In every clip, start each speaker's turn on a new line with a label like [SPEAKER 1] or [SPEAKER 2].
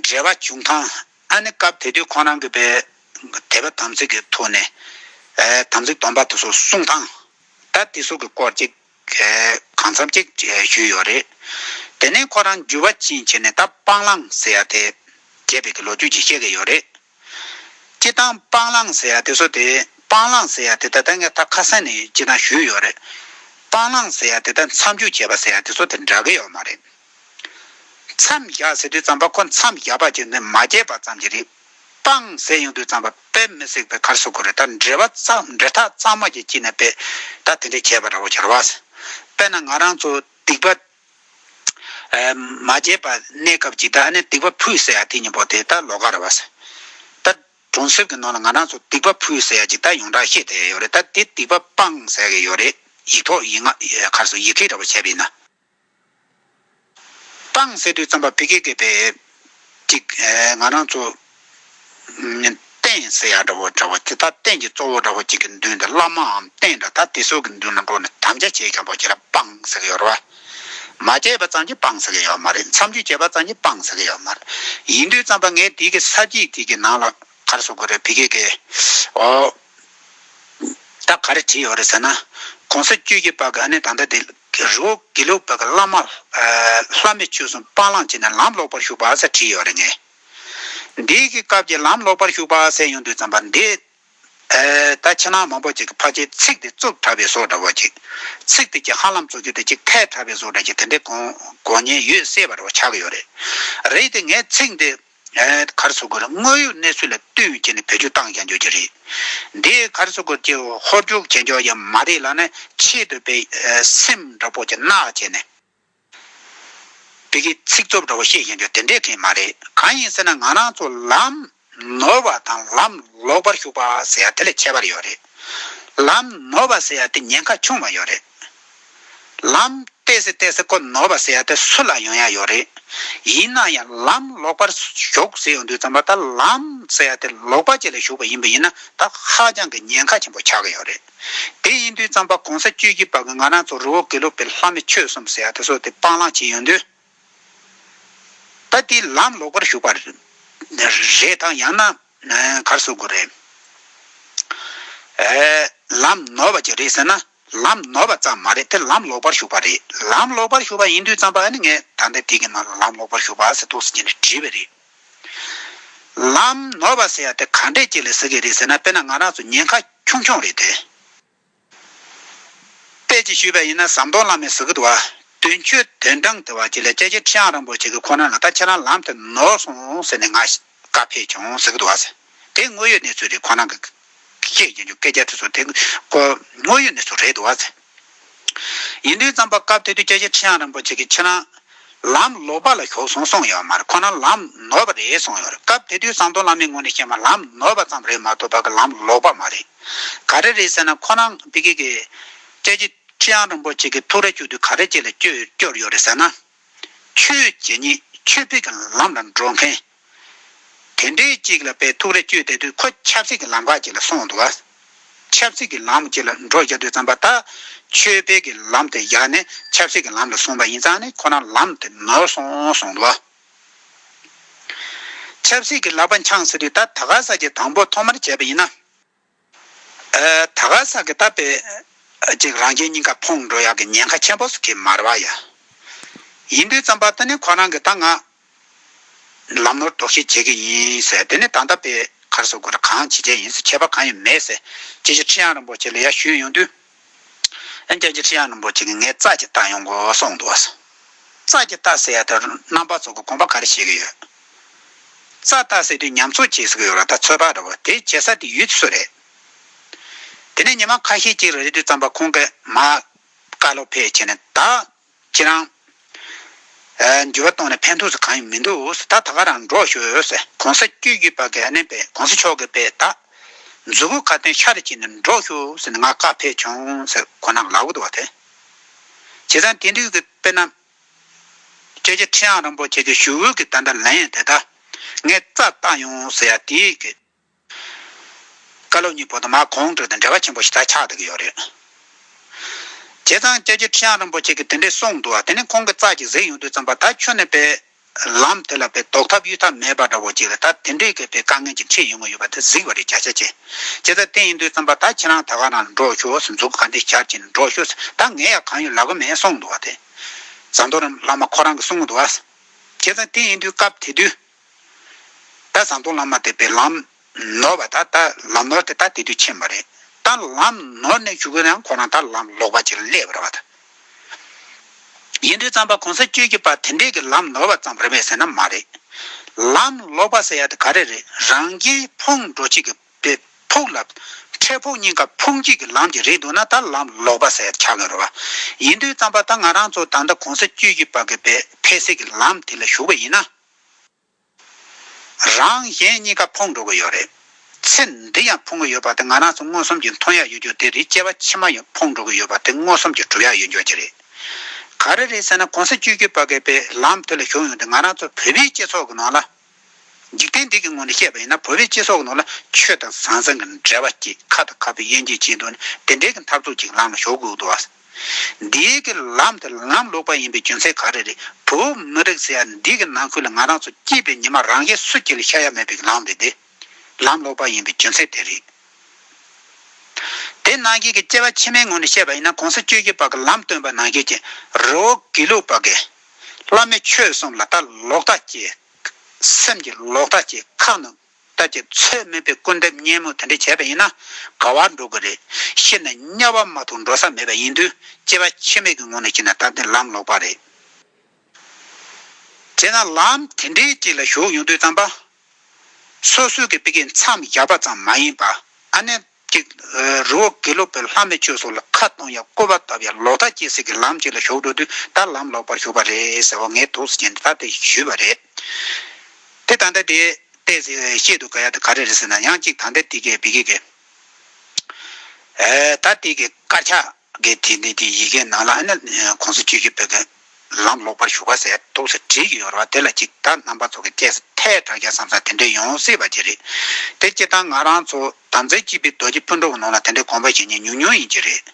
[SPEAKER 1] འབྲེལ་བ་བྱུང་ཁང་ཨ་ནི་སྐབས་དེ་དུས་ཁོང་རང་གི་པའི་དད་པ་དམ་ཚིག་གི་ཐོག་ནས་དམ་ཚིག་སྡོམ་པ་དེ་ཚོ་གསུངས་ཐང་ད་དེ་སོགས་ཀྱི་སྐོར་ཅིག་གང་འཚམ་ཅིག་ཞུས་ཡོད་རེད། དེ་ནས་ཁོ་རང་འགྱུར་བ་ཕྱིན་ཆད་ནས་ད་སྤང་བླང་ཟེར་ཡ་དེ་རྒྱས་པའི་གི་ལོ་རྒྱུས་ཅིག་བཤད་གི་ཡོད་རེད། སྤྱི་བཏང་སྤང་བླང་ཟེར་ཡ་དེ་བཟོ་དེ་སྤང་བླང་ཟེར་ཡ་དེ་ད་ལྟ་ངས་ད་ཁ་སང་ནས་སྤྱི་བཏང་ཞུས་ཡོད་རེད། སྤང་བླང་ཟེར་ཡ་དེ་ད་མཚམས་འཇོག་བྱས་པ་ཟེར་ཡ་དེ་ཚོ་དེ་འདྲ་གི་ཡོད་མ་རེད། མཚམས་བཞག་ཟེར་དུས་ཙམ་པ་ཁོ་མཚམས་བཞག་པ་བྱས་ནས་མ་བརྗེད་པ་ཙམ་གྱི་རེད། སྤང་ཟེར་ཡོང་དུས་ཙམ་པ་པད་མི་སྲེག་པའི་ཁར་སོ་གོ་རེད་ད་འབྲེལ་བ་འབྲེལ་ཐག་གཙང་མ་ཅིག་བཅིངས་ན་དཔེ་ད་དེ་འདྲས་བྱས་པ་འདྲ་བོ་བྱ་ར་བ། དཔེ་ན་ང་རང་ཚོ་སྡིག་པ་མ་བརྗེད་པར་གནས་སྐབས་ཅིག་ད་ཨ་ནེ་སྡིག་པ་ཕུད་ཟེར་ཡ་དེ་གཉིས་པོ་དེ་ད་ལོ་ག་རེ་བ་ཟེར། ད་གྲོང་གསེབ་ཀྱི་ནང་ལ་ང་རང་ཚོ་སྡིག་པ་ཕུད་ཟེར་ཡ་ཅིག་ད་ཡོངས་གྲགས་ཤེས་བསྡད་ཡོད་རེད་ད་དེ་སྡིག་པ་སྤངས་ཟེར་གྱི་ཡོད་རེད་ཡིག་ཐོག་ཡིག་ངག་གར་སོགས་ཡི་གེ་འདྲ་བོ་བྱས་པའི་ནང་སྤངས་ཟེར་དུས་རྩམ་པ་བི་གེ་གེ་བའི། གཅིག། ང་རང་ཚོ་རྟེན་གསལ་ཡ་འདྲ་བོ་འདྲ་བོ་དེ་དག་རྟེན་གྱི་གཙོ་བོ་འདྲ་བོ་གཅིག་གི་མདུན་དུ་བླ་མའམ་རྟེན་འདྲ་དག་དེ་སོགས་ཀྱི་མདུན་ལ་འགྲོ་ནས་དམ་བཅའ་བྱས་ཀྱང་པོ་བྱས་ལ་སྤང་ཟེར་གི་ཡོད་རེད་པ། མ་བྱས་པ་ཙམ་གྱིས་སྤང་ཟེར་གི་ཡོད་མ་རེད་མཚམས་རྒྱུད་བྱས་པ་ཙམ་གྱིས་སྤང་ཟེར་གི་ཡོད་མ་རེད། ཡིན་དུས་ཙམ་པ་ངས་དེ་གི་ས་གཅིག་དེ་གི་ནང་ལ་ག་རེ་བཟོ་དགོས་རེད་བི་ཀེ་ཀེ། འོ། ད་ག་རེ་བྲིས་ཡོད་རེད་ཟེར་ན། གོང་ས་བཅུད་ཀྱི་པ་ག་ནས་ད་ལྟ་དེ། གི་རི་བོ་དགེ་ལེགས་བོད་ཀྱི་བླ་མ། ལྷ་མི་ཆོས་སྲུང་སྤང་བླང་བྱས་ནས་ལམ་ལོག་པར་ཞུགས་པ་ཟེར་བྲིས་ཡོད་རེད་ངེས། འདི་གི་སྐབས་ཀྱི་ལམ་ལོག་པར་ཞུགས་པ་ཟེར་ཡོང་དུས་བརྩམས་པ་འདི། ད་ཕྱི་ནང་མང་པོ་ཅིག་གི་ཕ་ཆེ་ཚིག་འདི་རྩུབ་དྲགས་པའི་བཟོ་འདྲ་བོ་ཅིག། ཚིག་འདི་ཀྱི་ཧ་ལམ་རྩོད་རྒྱུ་དེ་ཅིག་ཐལ་དྲགས་པའི་བཟོ་འདྲ་ཅིག་དེ་འདྲའི་དགོངས་ཉེས་ཡོད་སྲིད་པ་འདྲ་བོ་ཆགས་ཀྱི་ཡོད་རེད། རེད་དེ་ངས་ཚིག་འདི། ཁར་སོ་གོར་དངོས་ཡོད་གནས་ཚུལ་ལ་བསྟུན་བྱས་ནས་བེད་སྤྱོད་བཏང་ཀྱང་འགྱོད་ཀྱི་རེད། འདིའི་ཁར་སོ་གོར་གྱི་ཧོལ་རྒྱུག་བྱེད་འཇོག་ཡང་མ་རེད་ལ་ནི་ཆེད་དུ་བེད་སེམས་འདྲ་པོ་གྱི་རྣག་བྱས་ནས། བོད་ཀྱི་ཚིག་རྩོབ་འདྲ་པོ་བཤད་ཀྱང་འགྱོད་དེ་འདྲའི་དྲན་མ་རེད་གང་ཡིན་ཟེར་ན་ང་རང་ཚོ་ལམ་ནོར་བ་དང་ལམ་ལོག་པར་ཞུགས་པ་ཟེར་ཡ་དེ་ལས་ཁྱད་པར་ཡོད་རེད། ལམ་ནོར་བ་ཟེར་ཡ་དེ་ཉེན་ཁ་ཆུང་བ་ཡོད་རེད། ལམ་བལྟས་སེ་བལྟས་སེ་ཀོ་ནོར་བ་ཟེར་ཡ་དེ་སུ་ལ་ཡོང་ཡ་ཡོད་རེད། ཡིན་ན་ཡང་ལམ་ལོག་པར་ཞོག་ཟེར་ཡོང་དུས་ཙམ་པ་ད་ལམ་ཟེར་ཡ་དེ་ལོག་པ་བཅས་ལ་ཞུགས་པ་ཡིན་པ་ཡིན་ན་ད་ཧ་ཅང་གི་ཉེན་ཁ་ཆེན་པོ་ཆགས་ཀྱི་ཡོད་རེད། དེ་ཡིན་དུས་ཙམ་པ་གོང་ས་བཅུའི་དགྱེས་པ་གི་ང་རང་ཚོ་རི་བོ་དགེ་ལུགས་པའི་ལྷ་མི་ཆོས་གསུམ་ཟེར་ཡ་དེ་ཚོ་དེ་སྤང་བླང་བྱས་ཡོང་དུས་ད་དེ་ལམ་ལོག་པར་ཞུགས་པ་རེད་དང་ཡང་ན་གར་སོ་དགོས་རེད། ལམ་ནོར་བ་ཅིག་རེད་ཟེར་ན། ལམ་ནོར་བ་ཙམ་མ་རེད་དེ་ལམ་ལོག་པར་ཞུགས་པ་རེད་ལམ་ལོག་པར་ཞུགས་པ་ཡིན་དུས་ཙམ་པ་ནི་ངས་ད་ལྟ་དེ་གི་ནང་ལ་ལམ་ལོག་པར་ཞུགས་པ་ཟེར་དུག་ཟེར་གྱི་ནི་བྲིས་པ་རེད། ལམ་ནོར་བ་ཟེར་ཡ་དེ་ག་འདྲས་ཀྱི་ལས་ཟེར་གི་རེད་ཟེར་ན་དཔེ་ན་ང་རང་ཚོ་ཉེན་ཁ་ཆུང་ཆུང་རེད་དེ། དཔེ་ཅིག་ཞུས་པ་ཡིན་ན་ཟམ་གདོང་བླ་མའི་གཟུགས་བར་དོན་ཆོས་དོན་དྲང་བདེན་བར་གྱི་ལས་དཔྱད་ཀྱི་ཁྲི་ཡང་རིན་པོ་ཆེ་གི་ཁོ་ན་ལ་ད་ཁྱེད་རང་ལམ་དེ་ནོར་སོང་ཟེར་ནས་ང་ཞེད་བཀའ་ཕེབས་བྱུང་ཟེར་གི་འདུག་ཨ་ཟེར། དེ་དངོས་ཡོད་གནས་ཚུལ་རེད་ཁོང་རང་གི། བཤད་ཀྱིན་འདུག་སྐད་ཆ་དེ་ཚོ་དེ། དངོས་ཡོད་གནས་ཚུལ་རེད་འདུག་ཨ་ཟེར། ཡིན་དུས་རྩམ་པ་བཀབ་སྟེ་དུས་བཅད་ཆེ་ཁྲི་བྱང་རིན་པོ་ཆེ་གིས་ཁྱེད་རང། ལམ་ལོག་པ་ལ་ཞོག་སོང་གསུངས་ཡོད་མ་རེད་ཁོང་རང་ལམ་ནོར་བ་རེད་གསུངས་ཡོད་རེད་སྐབས་དེ་དུས་ཟམ་གདོང་བླ་མའི་ངོས་ནས་བཤད་མ་ལམ་ནོར་བ་ཙམ་རེད་མ་གཏོགས་བ་གི་ལམ་ལོག་པ་མ་རེད། ག་རེ་རེད་ཟེར་ན་ཁོང་རང་བི་ཀི་གིས། བཅད་ཆེ་ཁྲི་བྱང་རིན་པོ་ཆེ་གིས་ཐུགས་རེ་བཅུག་དུས་ག་རེ་བཅད་ལ་བསྐྱོར་ཡོད་རེད་ཟེར་ན། ཆོས་རྗེ་ཉིད་ཆོས་འཕེལ་གྱི་ལམ་ལ་འགྲོ་མཁན། དེ་འདྲའི་ཅིག་ལ་པའི་ཐུགས་རེ་བཅོལ་བསྡད་དུས་ཁོ་ཆབ་སྲིད་ཀྱི་ལམ་ཁ་ཅིག་ལ་སོང་འདུག་བ། ཆབ་སྲིད་ཀྱི་ལམ་ཅིག་ལ་འགྲོ་བཞག་དུས་བརྩམས་པ་ད་ཆོས་འཕེལ་གྱི་ལམ་དེ་བཞག་ནས་ཆབ་སྲིད་ཀྱི་ལམ་ལ་སོང་བ་ཡིན་ཙང་ནི་ཁོ་རང་ལམ་དེ་ནོར་སོང་སོང་འདུག་བ། ཆབ་སྲིད་ཀྱི་ལག་པ་འཆང་ཟེར་དུས་ད་ད་ག་ས་ཀྱི་དང་པོ་ཐོག་མར་བྱས་པ་ཡིན་ན། ད་ག་ཟག་གི་བཏབ་པའི་ཅིག་རང་རྒྱལ་སྙིང་ཁ་ཕོངས་འགྲོ་ཡག་གི་ཉེན་ཁ་ཆེན་པོ་ཟུག་གི་མར་བ་ཡ། ཡིན་དུས་རྩམ་པ་ཏི་ནི་ཁོ་རང་གི་ད་ང་ལམ་ནོར་དོགས་གཞི་བྱེད་གི་ཡིན་ཟེར་དེ་ནི་ད་ལྟ་པའི་གར་སོགས་དགོས་ར་གང་བྱེད་བྱེད་ཡིན་ཟེར་ཁྱད་པ་གང་ཡང་མེད་ཟེར་ཅི་ཞིག་ཁྲི་གཡང་རིན་པོ་ཆེ་ལ་ཡ་ཞུས་ཡོང་དུས། ཨན་རྒྱལ་གྱིས་ཁྲི་ཡང་རིན་པོ་ཆེ་གིས་ངའི་རྩ་གཅིག་བཏང་ཡོང་དགོས་གསུངས་འདུག་གསུངས། རྩ་གཅིག་བཏགས་ཟེར་ཡ་དེར་རྣམ་པ་ཚོགས་ཀྱི་དགོངས་པ་ག་རེ་བྱེད་ཀྱི་ཡོད། རྩ་བཏགས་ཟེར་དུས་ཉམས་གསོ་བྱེད་ཟེར་གྱི་ཡོད་ལ་ད་ཚོད་དཔག་འདྲ་བོ་དེ་བྱེད་ས་དེ་ཡུལ་སུ་རེད། དེ་ནས་ཉི་མ་ཁ་ཤས་ཀྱི་རེ་ལྟོས་ཙམ་པ་ཁོང་གིས་མ། བཀའ་སློབ་ཕེབས་ཕྱིན་ནས་ད། ཁྱེད་རང། འགྱུར་བ་གཏོང་ནས་ཕན་ཐོགས་གང་ཡང་མི་འདུག་ད་ད་ག་རང་འགྲོ་ཤོད། གོང་ས་བཅུ་བརྒྱུད་པ་ག་ནས་པའི་གོང་ས་མཆོག་གི་པའི་ད། མཛུ་གུ་ཁ་ཏོན་ཤ་རུ་བྱས་ནས་འགྲོ་ཤོད་ང་བཀའ་ཕེབས་བྱུང་ཁོ་ན་ལག་བུད་བ་དེ། བྱས་ཙང་དེ་དུས་ཀྱི་དཔེ་རྣམས། སྤྱད་ཆེ་ཁྲི་ཡང་རིན་པོ་ཆེ་གི་ཞུ་འོས་ཀྱི་ད་ད་ལན་ཡང་དེ་ད། ངས་རྩ་བཏགས་ཡོང་ཟེར་ཡ་དེ། བཀའ་སློབ་གཉིས་པོ་དང་མ་གོང་བགྲོས་དང་འབྲེལ་བ་ཆེན་པོ་ཞིག་ད་ཆགས་བསྡད་ཀྱི་ཡོད་རེད། བྱས་ཙང་སྐྱབས་རྗེ་ཁྲི་བྱང་རིན་པོ་ཆེ་གིས་དེ་འདྲས་གསུངས་འདུག་ཨ་དེ་ནས་ཁོང་གིས་རྩ་གཅིག་གཟིགས་ཡོང་དུས་བརྩམས་པ་ད་ཁྱོད་ནས་པའི་ལམ་དེ་ལ་པའི་ལྡོག་ཐབས་གཡུལ་ཐབས་མེད་པ་འདྲ་བོ་ཅིག་ལ་ད་དེ་འདྲས་ཀྱི་པའི་དཀའ་ངལ་གྱི་འཁྲིས་ཡོང་གི་ཡོད་པ་དེ་གཟིགས་པ་རེད་བརྒྱ་ཆ་བྱས་བྱས་ཙང་དེ་ཡིན་དུས་བརྩམས་པ་ད་ཁྱེད་རང་ད་ག་ནང་ལ་འགྲོ་ཞོག་ཟིན་འཛུགས་ག་འདི་ཞར་གྱིས་ནས་འགྲོ་ཞོག་ཟིན་ད་ངས་ཡང་གང་ཡོད་ལབ་གི་མེད་གསུངས་འདུག་ཨ་དེ་ཟམ་གདོང་རིན་བླ་མ་ཁོ་རང་གིས་གསུངས་འདུག་ཨ། བྱས་ཙང་དེ་ཡིན་དུས་སྐབས་དེ་དུས་ད་བཟང་དུ་ལམ་མ་དད་པས་ལམ་ནོར་བ་དག་ད་ལམ་ནོར་དེ་དག་དེ་དུས་ཕྱིན་པ་རེད་ད་ལམ་ནོར་ནས་བཞུགས་ཡང་ཁོ་རང་ད་ལམ་ལོག་པ་ཅིག་སླེབས་རེ་བ་ད་ཡིན་དུས་ཙམ་པ་གོང་ས་བཅོས་ཀྱི་པ་དེ་འདྲས་ཀྱི་ལམ་ནོར་བ་ཙམ་རེ་བས་ཟེར་ན་མ་རེད་ལམ་ལོག་པ་ཟེར་ཡ་དེ་ག་རེ་རེད་རང་རྒྱལ་ཕུང་འགྲོ་བྱེད་ཀྱི་པའི་ཕུག་ལ་འཕྲད་ཕུག་གཉིས་ཀ་ཕུང་བྱེད་ཀྱི་ལམ་གྱི་རེད་འདུག་ན་ད་ལམ་ལོག་པ་ཟེར་ཆགས་གི་རེ་བ་ཡིན་དུས་ཙམ་པ་ད་ང་རང་ཚོ་ད་ལྟ་གོང་ས་བཅོས་ཀྱི་པ་གི་པའི་ཕལ་སེ་གི་ལམ་དེ་ལ་བཞུགས་པ་ཡིན་ན། རང་གཞན་གཉིས་ཀ་ཕོངས་འགྲོ་གི་ཡོད་རེད། ཚེ་འདི་ཡང་ཕོངས་གི་ཡོད་པ་དེ་ང་རང་ཚོ་མངོན་སུམ་གྱིས་མཐོང་ཡག་ཡོད་རྒྱུ་དེ་རེད་སྐྱེ་བ་ཕྱི་མ་ཡང་ཕོངས་འགྲོ་གི་ཡོད་པ་དེ་མངོན་སུམ་གྱིས་གྲུབ་ཡག་ཡོད་མགྱོགས་ཀྱི་རེད། ག་རེ་རེད་ཟེར་ན་གོང་ས་བཅུ་བརྒྱུད་པ་འགས་པའི་ལམ་དེ་ལ་ཞུགས་ཡོང་དུས་ང་རང་ཚོ་བོད་པའི་སྤྱི་ཚོགས་ཀྱི་ནང་ལ། འཇིག་རྟེན་འདི་གི་ངོས་ནས་བཤད་པ་ཡིན་ན་བོད་པའི་སྤྱི་ཚོགས་ཀྱི་ནང་ལ་ཆོས་དང་བཟང་བཟང་གི་འབྲེལ་བ་ཀྱིས་ཁ་དང་ཁ་བའི་དབྱེ་འབྱེད་བྱས་འདུག་ནས་དེ་འབྲེལ་གྱི་འཐབ་རྩོད་ཅིག་ལམ་ལ་ཞོག་དགོས་ཀྱི་འདུག་བ། འདིའི་གི་ལམ་དེ་ལམ་ལོག་པ་ཡིན་པའི་རྒྱུ་མཚན་ག་རེ་རེད་བུ་མི་རིག་ཟེར་ཡ་འདི་གི་ནང་ཁུལ་ལ་ང་རང་ཚོ་སྐྱིད་པའི་ཉི་མ་རང་གིས་སུ་སྐྱིད་ལ་ཤ་ཡ་མེད་པའི་གི་ལམ་རེད་དེ་ལམ་ལོག་པ་ཡིན་པའི་རྒྱུ་མཚན་དེ་རེད། དེ་ནང་ཁུལ་གི་སྐྱེ་བ་ཕྱི་མའི་ངོས་ནས་བཤད་པ་ཡིན་ན་གོང་ས་བཅུ་བཞི་པ་གི་ལམ་སྟོན་པ་ནང་ཁུལ་གྱི་རི་བོ་དགེ་ལུགས་པ་གི་བླ་མའི་ཆོས་གསུམ་ལ་ད་ལོག་ལྟ་སྐྱེས་སེམས་ཀྱི་ལོག་ལྟ་སྐྱེས་ཁག་ནང་ལྟ་ཅི་ཚོད་སྨོས་པའི་སྐུར་འདེབས་སྙན་མོ་དེ་འདྲ་བྱས་པ་ཡིན་ན་དགའ་བར་འགྲོ་གི་རེད། ཤི་ན་དམྱལ་བ་མ་ཐུག་འགྲོ་ས་མེད་པ་ཡིན་དུས་སྐྱེ་བ་ཕྱི་མིག་གི་ངོ་ནས་ཕྱིན་ན་ད་དེ་ལམ་ལོག་པ་རེད། བྱས་ན་ལམ་དེ་འདྲའི་དཀྱིལ་ལ་ཞུགས་ཡོང་དུས་དམ་པ་སོ་སོའི་གི་པི་ཀའི་མཚམས་བཞག་པ་ཙམ་མ་ཡིན་པ་ཨ་ནེ། གཅིག། རི་བོ་དགེ་ལུགས་པའི་ལྷ་མི་ཆོས་སོགས་ལ་ཁ་གཏོང་ཡང་བསྐུར་བ་བཏབ་ཡང་ལོག་ལྟ་སྐྱེས་ཟིག་གི་ལམ་གཅིག་ལ་ཞོག་འགྲོ་དུས་ད་ལམ་ལོག་པར་ཞུགས་པ་རེད་ཟེར་བ་ངས་དུག་སེལ་བྱས་ནས་ད་དེ་ཞུས་པ་རེད། དེ་ད་ལྟ་དེ་བལྟས་ཟིག་ཤེས་འདུག་ག་ཡག་དེ་ག་རེ་རེད་ཟེར་ན་ཡང་གཅིག་ད་ལྟ་དེ་གས་བི་གེ་གས། ད་དེ་གས་དཀར་ཆག། དགེ་དེ་ནས་དེ་ཡི་གེ་ནང་ལ་ཨ་ནི་གོང་ས་ཆོས་ཀྱི་བུ་དགེ་ལམ་ལོག་པར་ཞུགས་པ་ཟེར་རྟོག་ཟེར་བྲིས་ཀྱི་ཡོད་རེད་བ་དེ་ལ་གཅིག་བདག་རྣམ་པ་ཚོ་གི་སྐྱེས་ཐད་དྲ་རྒྱ་བསམ་ས་དེ་འདྲས་ཡོང་སྲིད་པ་དེ་རེད་དེ་སྤྱིར་བཏང་ང་རང་ཚོ་དམ་རྫས་སྐྱིད་པའི་རྡོ་རྗེ་སྤུན་གྲོགས་ནང་ལ་དེ་འདྲས་དགོངས་པ་བཞེས་ཉེས་ཉུང་ཉུང་ཡིན་གྱི་རེད་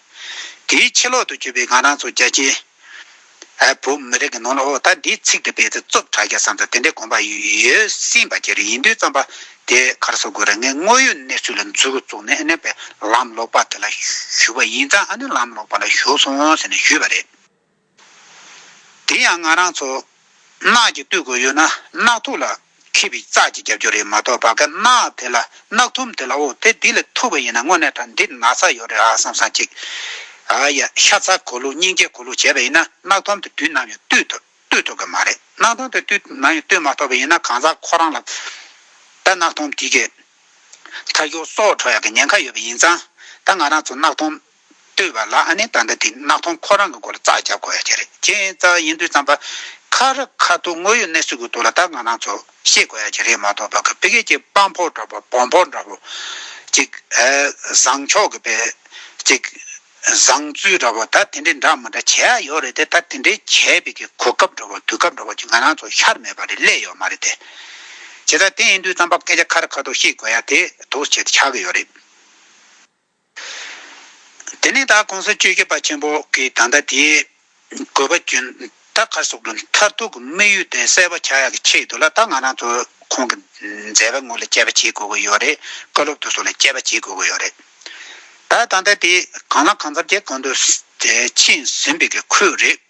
[SPEAKER 1] དེའི་ཕྱི་ལོག་ཏུ་བྱོས་པའི་ང་རང་ཚོ་རྒྱ་ཆེའི། ཨེ། བོད་མི་རིགས་ཀྱི་ནང་ལ་ཨོ་ད་འདིའི་ཚིག་འདི་སྤེལ་ཚེ་རྩོབ་གྲ་རྒྱ་བསམ་དང་དེ་འདྲའི་དགོངས་པ་ཡོད་སྲིད་པ་གྱི་རེད་ཡིན་དུས་བརྩམས་པ་དེ་གར་སོ་དགོས་རེད་ངས་དངོས་ཡོད་གནས་ཚུལ་ལ་འཛུལ་བཙུགས་ནས་ཨ་ནེ་པའི་ལམ་ལོག་པ་དེ་ལ་ཞུས་པ་ཡིན་ཙང་ཨ་ནེ་ལམ་ལོག་པ་ལ་ཞུགས་སོང་ཟེར་ནས་ཞུས་པ་རེད། དེ་ཡང་ང་རང་ཚོ་ནགས་ཀྱི་སྟོད་གོས་ཡོད་ན་ནགས་ཐུག་ལ་མཁས་པའི་རྩ་གཅིག་རྒྱབ་སྐྱོར་རེད་མ་གཏོགས་བག་ཀ་ནག་དེ་ལ་གནག་ཐུམ་དེ་ལ་འོ་དེ་འདི་ལ་ཐུག་པ་ཡིན་ན་དངོས་གནས་དྲ་འདིར་ན་ཚ་ཡོད་རེད་ཨ་བསམ་བསམ་ཅིག། ཨ་ཡ་ཤ་ཚ་གོ་ལུག་སྙིང་རྗེ་གོ་ལུག་བྱས་པ་ཡིན་ན་གནག་ཐུམ་དེ་དུས་ནམ་ཡང་བཏུས་ཐུབ་བཏུས་ཐུབ་ཀྱི་མ་རེད་གནག་ཐུམ་དེ་དུས་ནམ་ཡང་བཏུས་མ་ཐུབ་པ་ཡིན་ན་གང་ཟག་ཁོ་རང་ལ་ད་གནག་ཐུམ་དེ་གི་མཐར་ཡོ་སོགས་འཕྲོ་ཡག་གི་ཉེན་ཁ་ཡོད་པ་ཡིན་ཙང་ད་ང་རང་ཚོ་གནག་ཐུམ་ལྟོས་པ་ལ་ཨ་ནེ་ད་ལྟ་དེ་གནག་ཐོང་ཁོ་རང་གི་སྐོར་ཙག་རྒྱབ་དགོས་ཡ་གྱི་རེད་ཁྱེད་ཡིན་ཙག་ཡིན་དུས་ཙམ་པ་ཁ་ར་ཁ་ཐུག་དངོས་ཡོད་གནས་སུ་གི་འདུག་ལ་ད་ང་རང་ཚོ་ཤེས་དགོས་ཡ་གྱི་རེད་མ་ཏོག་པ་གི་བི་གེ་གྱི་དཔའ་འཕོ་འདྲ་པོ་བོང་འཕོ་འདྲ་པོ་ཅིག་བཟང་ཕྱོགས་གི་བེ་ཅིག་བཟང་བཙུལ་འདྲ་པོ་ད་དེ་འདྲའི་འདྲ་མི་འདྲ་བྱེད་ཡ་ཡོད་རེད་དེ་ད་དེ་འདྲའི་བྱས་བི་གེ་གོ་སྐབས་འདྲ་པོ་དུས་སྐབས་འདྲ་པོ་ཅིག་ང་རང་ཚོ་ཤར་མེད་པ་རེད་སླད་ཡོད་མ་རེད་དེ་བྱས་ཙག་དེ་ཡིན་དུས་ཙམ་པ་སྐད་ཆ་ཁ་ར་ཁ་ཐུག་ཤེས་དགོས་ཡ་དེ་དུག་བྱེད་ཆག་གི་ཡོད་རེད། དེ་ནས་དྭགས་ཀོང་ས་སྤྱོད་རྒྱལ་བ་ཆེན་པོ་གིས་ད་ལྟ་དེའི་དགོས་པ་རྒྱུན་ཐག་ཁ་སོགས་མཐར་ཐུག་གི་དམིགས་ཡུལ་དེ་གསལ་བར་བྱ་ཡག་གི་ཆེད་དུ་ལ་དྭགས་ང་རང་ཚོ་ཁོང་གི་མཛད་པའི་ངོ་ལ་དཔྱད་པ་བྱེད་དགོས་ཀྱི་ཡོད་རེད་བཀའ་སློབ་ཏུ་སོགས་ལ་དཔྱད་པ་བྱེད་དགོས་ཀྱི་ཡོད་རེད་ད། ད་ལྟ་དེ་གང་ལ་གང་འཚམ་དེ་གོང་དུ་ཕྱིན་ཟིན་པའི་ཁུལ་རེད།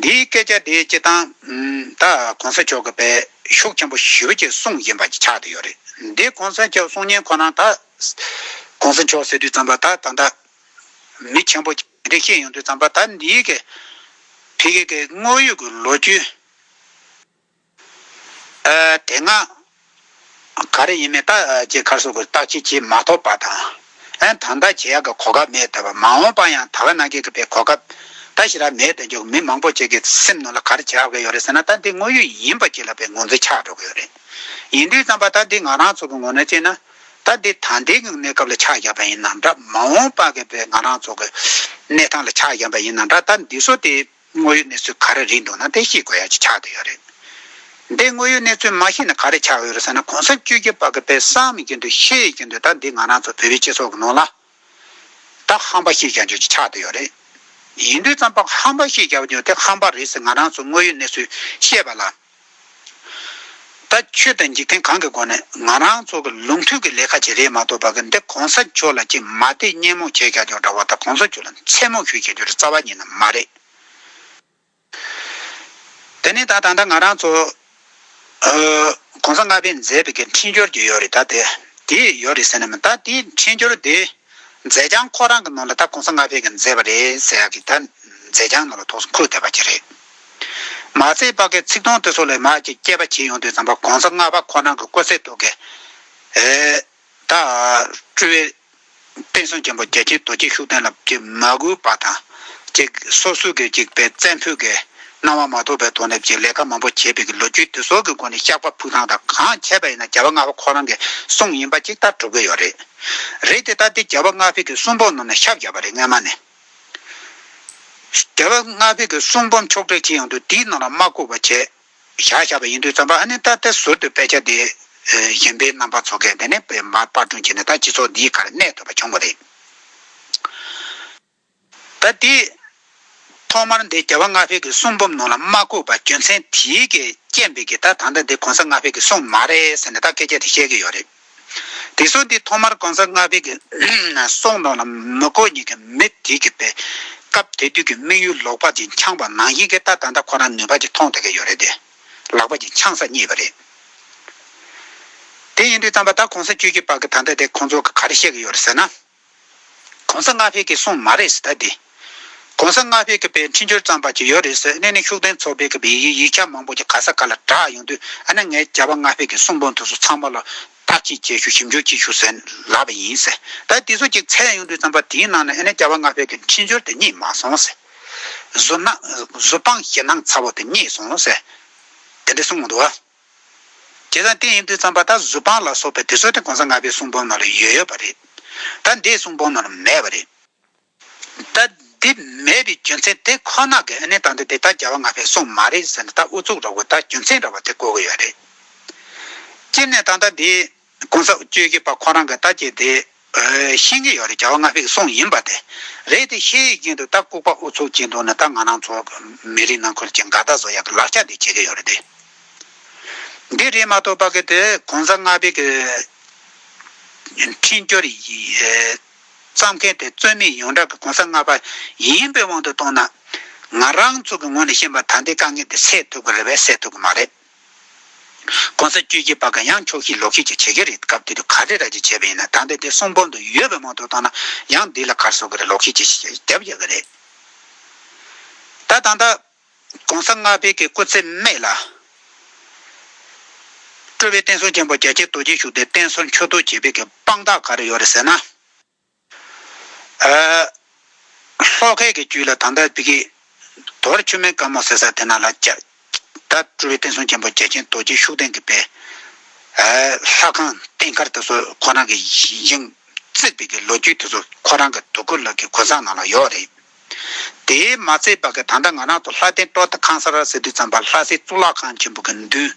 [SPEAKER 1] འདིའི་སྐད་ཆ་དེ་སྤྱིར་བཏང་ད་གོང་ས་མཆོག་གི་པས་ཤུགས་ཆེན་པོ་ཞུ་རྒྱུའི་གསུང་བཞིན་པ་ཆགས་ཏུ་ཡོད་རེད་འདི་གོང་ས་མཆོག་གསུང་ཉན་ཁོ་ན་ད་གོང་ས་མཆོག་ཟེར་དུས་ཙམ་པ་ད་ད་ད་མི་ཆེན་པོ་གྱི་རེ་ཤེས་ཡོང་དུས་ཙམ་པ་ད་འདིའི་གི་ཕི་གེ་གི་དངོས་ཡོད་གི་ལོ་རྒྱུས། དེ་སྔ་ག་རེ་ཡིན་མིན་ལྟ་ཅི་ཁར་སོ་གོ་བརྟག་དཔྱད་བྱེད་མ་ཐོབ་པ་དང། དང་བརྟག་བྱེད་ཡག་གི་གོ་སྐབས་མེད་སྟབས་མ་འོངས་པར་ཡང་ད་ག་ནང་གི་པའི་གོ་སྐབས་ད་ཞིག་ར་མེད་དུ་འགྱུར་མི་མང་པོ་ཅིག་གི་སེམས་ནང་ལ་ག་རེ་བྱ་དགོས་ཡོད་རེད་ཟེར་ན་ད་འདི་དངོས་ཡོད་ཡིན་པ་ཅིག་ལ་པའི་ངོ་མཚར་ཆགས་འགྲོ་གི་ཡོད་རེད། ཡིན་དུས་བརྩམས་པ་ད་འདི་ང་རང་ཚོ་གི་ངོ་ནས་བལྟས་ན། ད་འདི་ད་ལྟའི་གི་གནས་སྐབས་ལ་ཆགས་བཞག་པ་ཡིན་ནམ་འདྲ་མ་འོངས་པ་གི་པའི་ང་རང་ཚོ་གི་གནས་སྟངས་ལ་ཆགས་བཞག་པ་ཡིན་ནམ་འདྲ་ད་འདི་སོ་དེ། དངོས་ཡོད་གནས་ཚུལ་ག་རེ་རེད་འདུག་ན་དེ་ཤེས་དགོས་ཡ་ཅི་ཆགས་འདུག་ཡ་རེད། འདི་དངོས་ཡོད་གནས་ཚུལ་མ་ཤེས་ན་ག་རེ་ཆགས་ཡོད་རེད་ཟེར་ན་གོང་ས་བཅུ་རྒྱལ་བ་གི་པའི་སང་མི་ཀྱི་འདུག་ཤེས་ཀྱི་འདུག་ད་འདི་ང་རང་ཚོ་བོད་པའི་སྤྱི་ཚོགས་ཀྱི་ནང་ལ། ད་ཧམ་པ་ཤེས་ཀྱང་ཆོག་ཅི་ཆགས་འདུག་ཡ་རེད། ཡིན་དུས་ཙམ་པ་ཧམ་པ་ཤེས་ཀྱང་ཆོག་དེ་ཧམ་པ་རེད་ཟེར་ང་རང་ཚོ་དངོས་ཡོད་གནས་ཚུལ་བཤད་པ་ལ། ད་ཁྱོད་དང་འཇིག་རྟེན་གང་གི་སྒོ་ནས་ང་རང་ཚོ་གི་ལུང་མཐུན་གི་ལས་ཁ་བྱེད་རེད་མ་གཏོགས་བ་གི་འདི་གོང་ས་མཆོག་ལ་ཅིག་མ་བལྟས་བརྙས་རྨོངས་བྱས་བཞག་ཀྱང་འདྲ་བ་ད་གོང་ས་མཆོག་ལ་མཚན་རྨོངས་ཞུས་བྱེད་རྒྱུ་རེད་རྩ་བ་ཉིད་ན་མ་རེད། དེ་ནས་ད་ད་ལྟ་ང་རང་ཚོ་གོང་ས་ལྔ་པས་མཛད་པའི་གི་འཕྲིན་སྦྱོར་གྱི་ཡོད་རེད་ད་དེ་དེ་ཡོད་རེད་ཟེར་ནས་མི་ད་དེའི་འཕྲིན་སྦྱོར་དེ་མཛད་བྱང་ཁོ་རང་གི་ནང་ལ་ད་གོང་ས་ལྔ་པས་གི་མཛད་པ་རེད་ཟེར་ཡག་གི་ད་མཛད་བྱང་ནང་ལ་ཐོགས་སོང་འཁོད་བསྡད་པ་གྱི་རེད། མ་ཚེ་དཔག་གི་ཚིག་སྟོང་དེ་ཚོ་ལས་མ་ཅིག་སྐྱེས་པ་བྱས་ཡོང་དུས་རྩམ་པ་གོང་ས་ལྔ་པ་ཁོ་རང་གི་སྐུ་ཚེ་ཐུག་གི། ད་སྤྲུལ་བའི་བསྟན་སྲུང་ཆེན་པོ་རྒྱལ་ཆེན་རྡོ་རྗེ་ཤུགས་ལྡན་ལབ་ཀྱི་མ་གུས་པ་དང་ཅིག་སོ་སུ་གི་ཅིག་པའི་བཙན་ཕུད་གི་སྣང་བ་མ་ཐོབ་པའི་ཐོག་ནས་ཅིག་ལས་ཀ་མང་པོ་བྱས་པའི་གི་ལོ་རྒྱུས་དེ་ཚོ་གི་སྒོ་ནས་ཤག་པ་ཕུགས་ཐང་དང་གང་ཁྱད་པ་ཡིན་ན་རྒྱལ་བ་ལྔ་པ་ཁོ་རང་གི་གསུང་ཡིན་པ་ཅིག་ལྟར་གྲུབ་གི་ཡོད་རེད། རེད་དེ་ལྟ་དེ་རྒྱལ་བ་ལྔ་བྷེ་གི་གསུང་པོ་རྣམས་ནས་ཤབ་བཞག་པ་རེད་སྔན་མ་ནས། རྒྱལ་བ་ལྔ་བས་ཀྱི་གསུང་འབུམ་ཕྱོགས་བསྒྲིགས་ཅི་ཡང་དུ་དེའི་ནང་ལ་མ་བཀོད་པར་བྱས། བཞག་བཞག་པ་ཡིན་དུས་བརྩམས་པ་ཨ་ནི་ད་ལྟ་ཟུར་དུ་དཔེ་ཆ་འདི། གཞན་པའི་རྣམ་པ་ཚོ་གས་དེ་ནས་དཔེ་དམར་དཔར་སྐྲུན་བྱས་ནས་ད་སྤྱི་ཚོགས་འདིའི་ཁར་གནས་ཐུབ་པ་བྱུང་བ་རེད། ད་དེ། ཐོག་མར་འདི་རྒྱལ་བ་ལྔ་བས་ཀྱི་གསུང་འབུམ་ནང་ལ་མ་བཀོད་པར་རྒྱུ་མཚན་དེའི་གས་རྐྱེན་པས་ཀྱི་ད་ད་ལྟ་འདི་གོང་ས་ལྔ་བས་ཀྱི་གསུང་མ་རེད་ཟེར་ནས་ད་སྐད་ཆ་དེ་བཤད་ཀྱི་ཡོད་རེད། དེ་སྲོལ་འདི་ཐོག་མར་གང་ཟག་ལྔ་པའི་གསུང་དང་ལ་མི་གོ་གཉིས་ཀྱི་མི་དེ་གི་པའི་སྐབས་དེ་དུས་ཀྱི་དམིགས་ཡུལ་ལོག་པ་ཅིག་འཆང་བ་ནང་བཞིན་གྱི་ལྟ་ད་ལྟ་ཁོ་རང་ནུས་པ་ཅིག་ཐོངས་ཐུབ་ཀྱི་ཡོད་རེད་དེ། ལག་པ་ཅིག་འཆང་ས་རྙེད་པ་རེད། དེ་ཡིན་དུས་ཙམ་པ་ད་གང་ཟག་ཁྱོད་ཀྱི་པ་གི་ད་ལྟ་དེ་ཁོང་ཚོ་གི་ག་རེ་བཤད་ཀྱི་ཡོད་རེད་ཟེར་ན། གོང་ས་ལྔ་བྷེ་གིས་གསུངས་མ་རེད་ཟེར་ད་དེ། གོང་ས་ལྔ་བྷེ་གི་པའི་འཕྲིན་སྦྱོར་ཙམ་པ་ཅིག་ཡོད་རེད་ཟེར་གནས་ནས་ཤུགས་ལྡན་ཚོགས་པའི་གི་པའི་ཡིག་ཆ་མང་པོ་ཅིག་ག་ས་ག་ལ་གྲགས་ཡོང་དུས་ཨ་ན་ངས་བྱ་བ་ལྔ་བྷེ་གི་གསུངས་པོ་འདུག་ཟུར་ཚང་མ་ལ་བརྟག་དཔྱད་དཔྱད་ཞུ་ཞིབ་འཇུག་ཅིག་ཞུ་ཟེར་ལབ་པ་ཡིན་ཟེར་ད་དེ་ཚོ་ཅིག་ཚད་ཡོང་དུས་ཙམ་པ་དེའི་ནང་ནས་ཨ་ན་བྱ་བ་ལྔ་བྷེ་གི་འཕྲིན་སྦྱོར་དེ་རྙེད་མ་སོང་ཟེར། བཟོ་སྣང་བཟོ་སྤང་ཞེ་སྣང་ཚ་བོ་དེ་རྙེད་སོང་ཟེར། དེ་འདྲ་གསུངས་འདུག་ཨ། དེ་དང་གཏན་ཡིན་དུས་བརྩམས་པ་དག་གཟུ་དཔང་ལ་སོགས་པའི་དུས་སོགས་དེ་གོང་ས་ལྔ་པའི་གསུང་འབུམ་རྣམས་ལ་ཡོད་ཡོད་པ་རེད། ད་འདིའི་གསུང་འབུམ་རྣམས་ལ་མེད་པ་རེད། ད་འདི་མེད་པའི་རྒྱུ་མཚན་དེ་ཁོ་ན་གི་ཨ་ནེ་དང་འདི་དེ་ད་རྒྱལ་བ་ལྔ་པའི་གསུང་མ་རེད་ཟེར་ནས་ད་ཨུ་ཚུགས་རོགས་གོ་ད་རྒྱུ་མཚན་འདྲ་བ་དེ་གོ་གི་ཡོད་རེད། སྤྱིར་ནས་ད་ད་འདིའི། ཀུན་བཟང་སྤྱོད་ཀྱི་པ་ཁོ་རང་གི་རྟ་ཁྱེར་དེ། ཤིང་གི་ཡོ་རི་བྱ་བ་ང་ཕིག་སོང་ཡིན་པ་དེ། རེད་དེ་ཤེས་ཡོད་ཀྱིན་དུ་རྟ་ལྐུག་པ་ཨུ་ཚུགས་ཀྱིན་འདུག་ན་ད་ང་རང་ཚོ་མི་རིགས་ནང་ཁུལ་གྱི་འགའ་རྟ་བཟོ་ཡག་གི་ལག་ཆ་འདི་བྱེད་ཀྱི་ཡོ་རེད་དེ། འདི་རེད་མ་གཏོགས་པ་གི་དེ་ཀུན་བཟང་ང་ཕིག་གི་འཕྲིན་སྐྱོར་བརྩམས་མཁན་དེ་རྩོད་མེད་ཡོངས་གྲགས་ཀྱི་ཀུན་བཟང་ང་ཕ་ཡིན་པའི་དབང་དུ་གཏོང་ན། ང་རང་ཚོ་གི་ངོས་ནས་བཤད་པ་ད་འདི་དཀའ་ངལ་འདི་སེལ་ཐུབ་གི་རེད་བས་སེལ་ཐུབ་གི་མ་རེད། གོང་ས་བཅུ་གཅིག་པ་གང་ཡང་ཆོག་ཤེས་ལོག་ཤེས་ཀྱི་བྱེད་ཀྱི་རེད་སྐབས་དེ་དུས་ག་རེ་ར་ཅི་བྱས་པ་ཡིན་ན་ད་ལྟ་དེ་གསུང་འབུམ་དུ་ཡོད་པའི་མང་ཐོག་བཏང་ན་ཡང་འདི་ལ་གར་སོག་གི་རེད་ལོག་ཤེས་ཀྱི་བྱེད་ཀྱི་རྒྱབ་རྒྱག་གི་རེད། ད་ད་ད། གོང་ས་ལྔ་བས་ཀྱི་སྐུ་ཚེ་སྨད་ལ། སྤྲུལ་བའི་བསྟན་སྲུང་ཆེན་པོ་རྒྱལ་ཆེན་རྡོ་རྗེ་ཞུགས་ཏེ་བསྟན་སྲུང་མཆོད་བསྟོད་བྱེད་པས་ཀྱི་དཔང་རྟགས་ག་རེ་ཡོད་རེད་ཟེར་ན། ཤློ་ཀའི་གི་རྒྱུད་ལ་དང་ད་བི་ཀི། དུ་བར་ཆོས་མེད་དཀར་མོ་ཟེ་ས་དེ་ན་ལ། ཀྱཱ་ད་སྤྲུལ་པའི་བསྟན་སྲུང་ཆེན་པོ་རྒྱལ་ཆེན་རྡོ་རྗེ་ཤུགས་ལྡན་གྱི་དཔལ། ལྷ་ཁང་རྟེན་མཁར་དེ་ཚོ་ཁོ་རང་གི་ཡིན། རྩིག་པའི་གི་ལོ་རྒྱུས་དེ་ཚོ་ཁོ་རང་གི་དུ་ཀུ་ལགས་ཀྱི་གོ་མཚང་ནང་ལ་ཡོད་རེད། དེའི་མ་ཚད་པར་ད་ལྟ་ང་རང་ཚོ་ལྷ་ལྡན་སྤྲོ་བསྡུ་ཁང་གསར་བ་ཟེར་དུས་བརྩམས་པ་ལྷ་སའི་གཙུག་ལག་ཁང་ཆེན་པོ་གི་མདུན།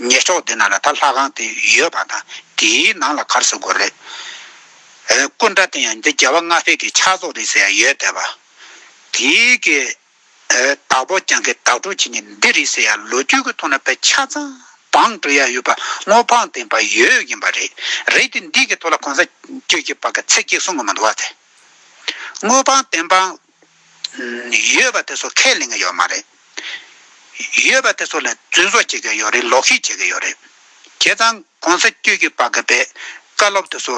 [SPEAKER 1] ཉེ་ཕྱོགས་དེ་ན་ལ་དྭགས་ལྷ་ཁང་དེ་ཡོད་པ་དང་དེའི་ནང་ལ་གར་སོ་སྒོར་རེད། སྐུ་འདྲ་དེ་ཡང་འདི་རྒྱལ་བ་ལྔ་བྷེ་གི་ཕྱག་རྫོགས་རེད་ཟེར་ཡ་ཡོད་བསྡད་པ། དེ་གི་བདག་པོ་རྒྱང་གི་བདག་གྲུབ་བྱེད་ནི་འདི་རེད་ཟེར་ཡ་ལོ་རྒྱུས་ཀྱི་ཐོག་ན་ཕལ་ཆ་ཚང་བང་བྲོ་ཡ་ཡོད་པ་སྔོ་ཕང་ལྡན་པ་ཡོད་ཡིན་པ་རེད་རེད་དེ་འདི་གི་ཐོག་ལ་གོང་ས་བཅོས་ཀྱི་བར་གི་ཚེ་སྐྱིག་གསུང་གི་མ་འདུག་བ་དེ། དངོས་དཔང་བདེན་དཔང། ཡོད་པ་དེ་ཚོ་ཁས་ལེན་གྱི་ཡོད་མ་རེད། ཡོད་པ་དེ་ཚོ་ལ་རྫུན་བཟོ་བྱེད་ཀྱི་ཡོད་རེད་ལོག་ཤིག་བྱེད་ཀྱི་ཡོད་རེད། བྱས་ཙང་གོང་ས་བཅུ་གྱིས་པ་གི་པའི་བཀའ་སློབ་དེ་ཚོ།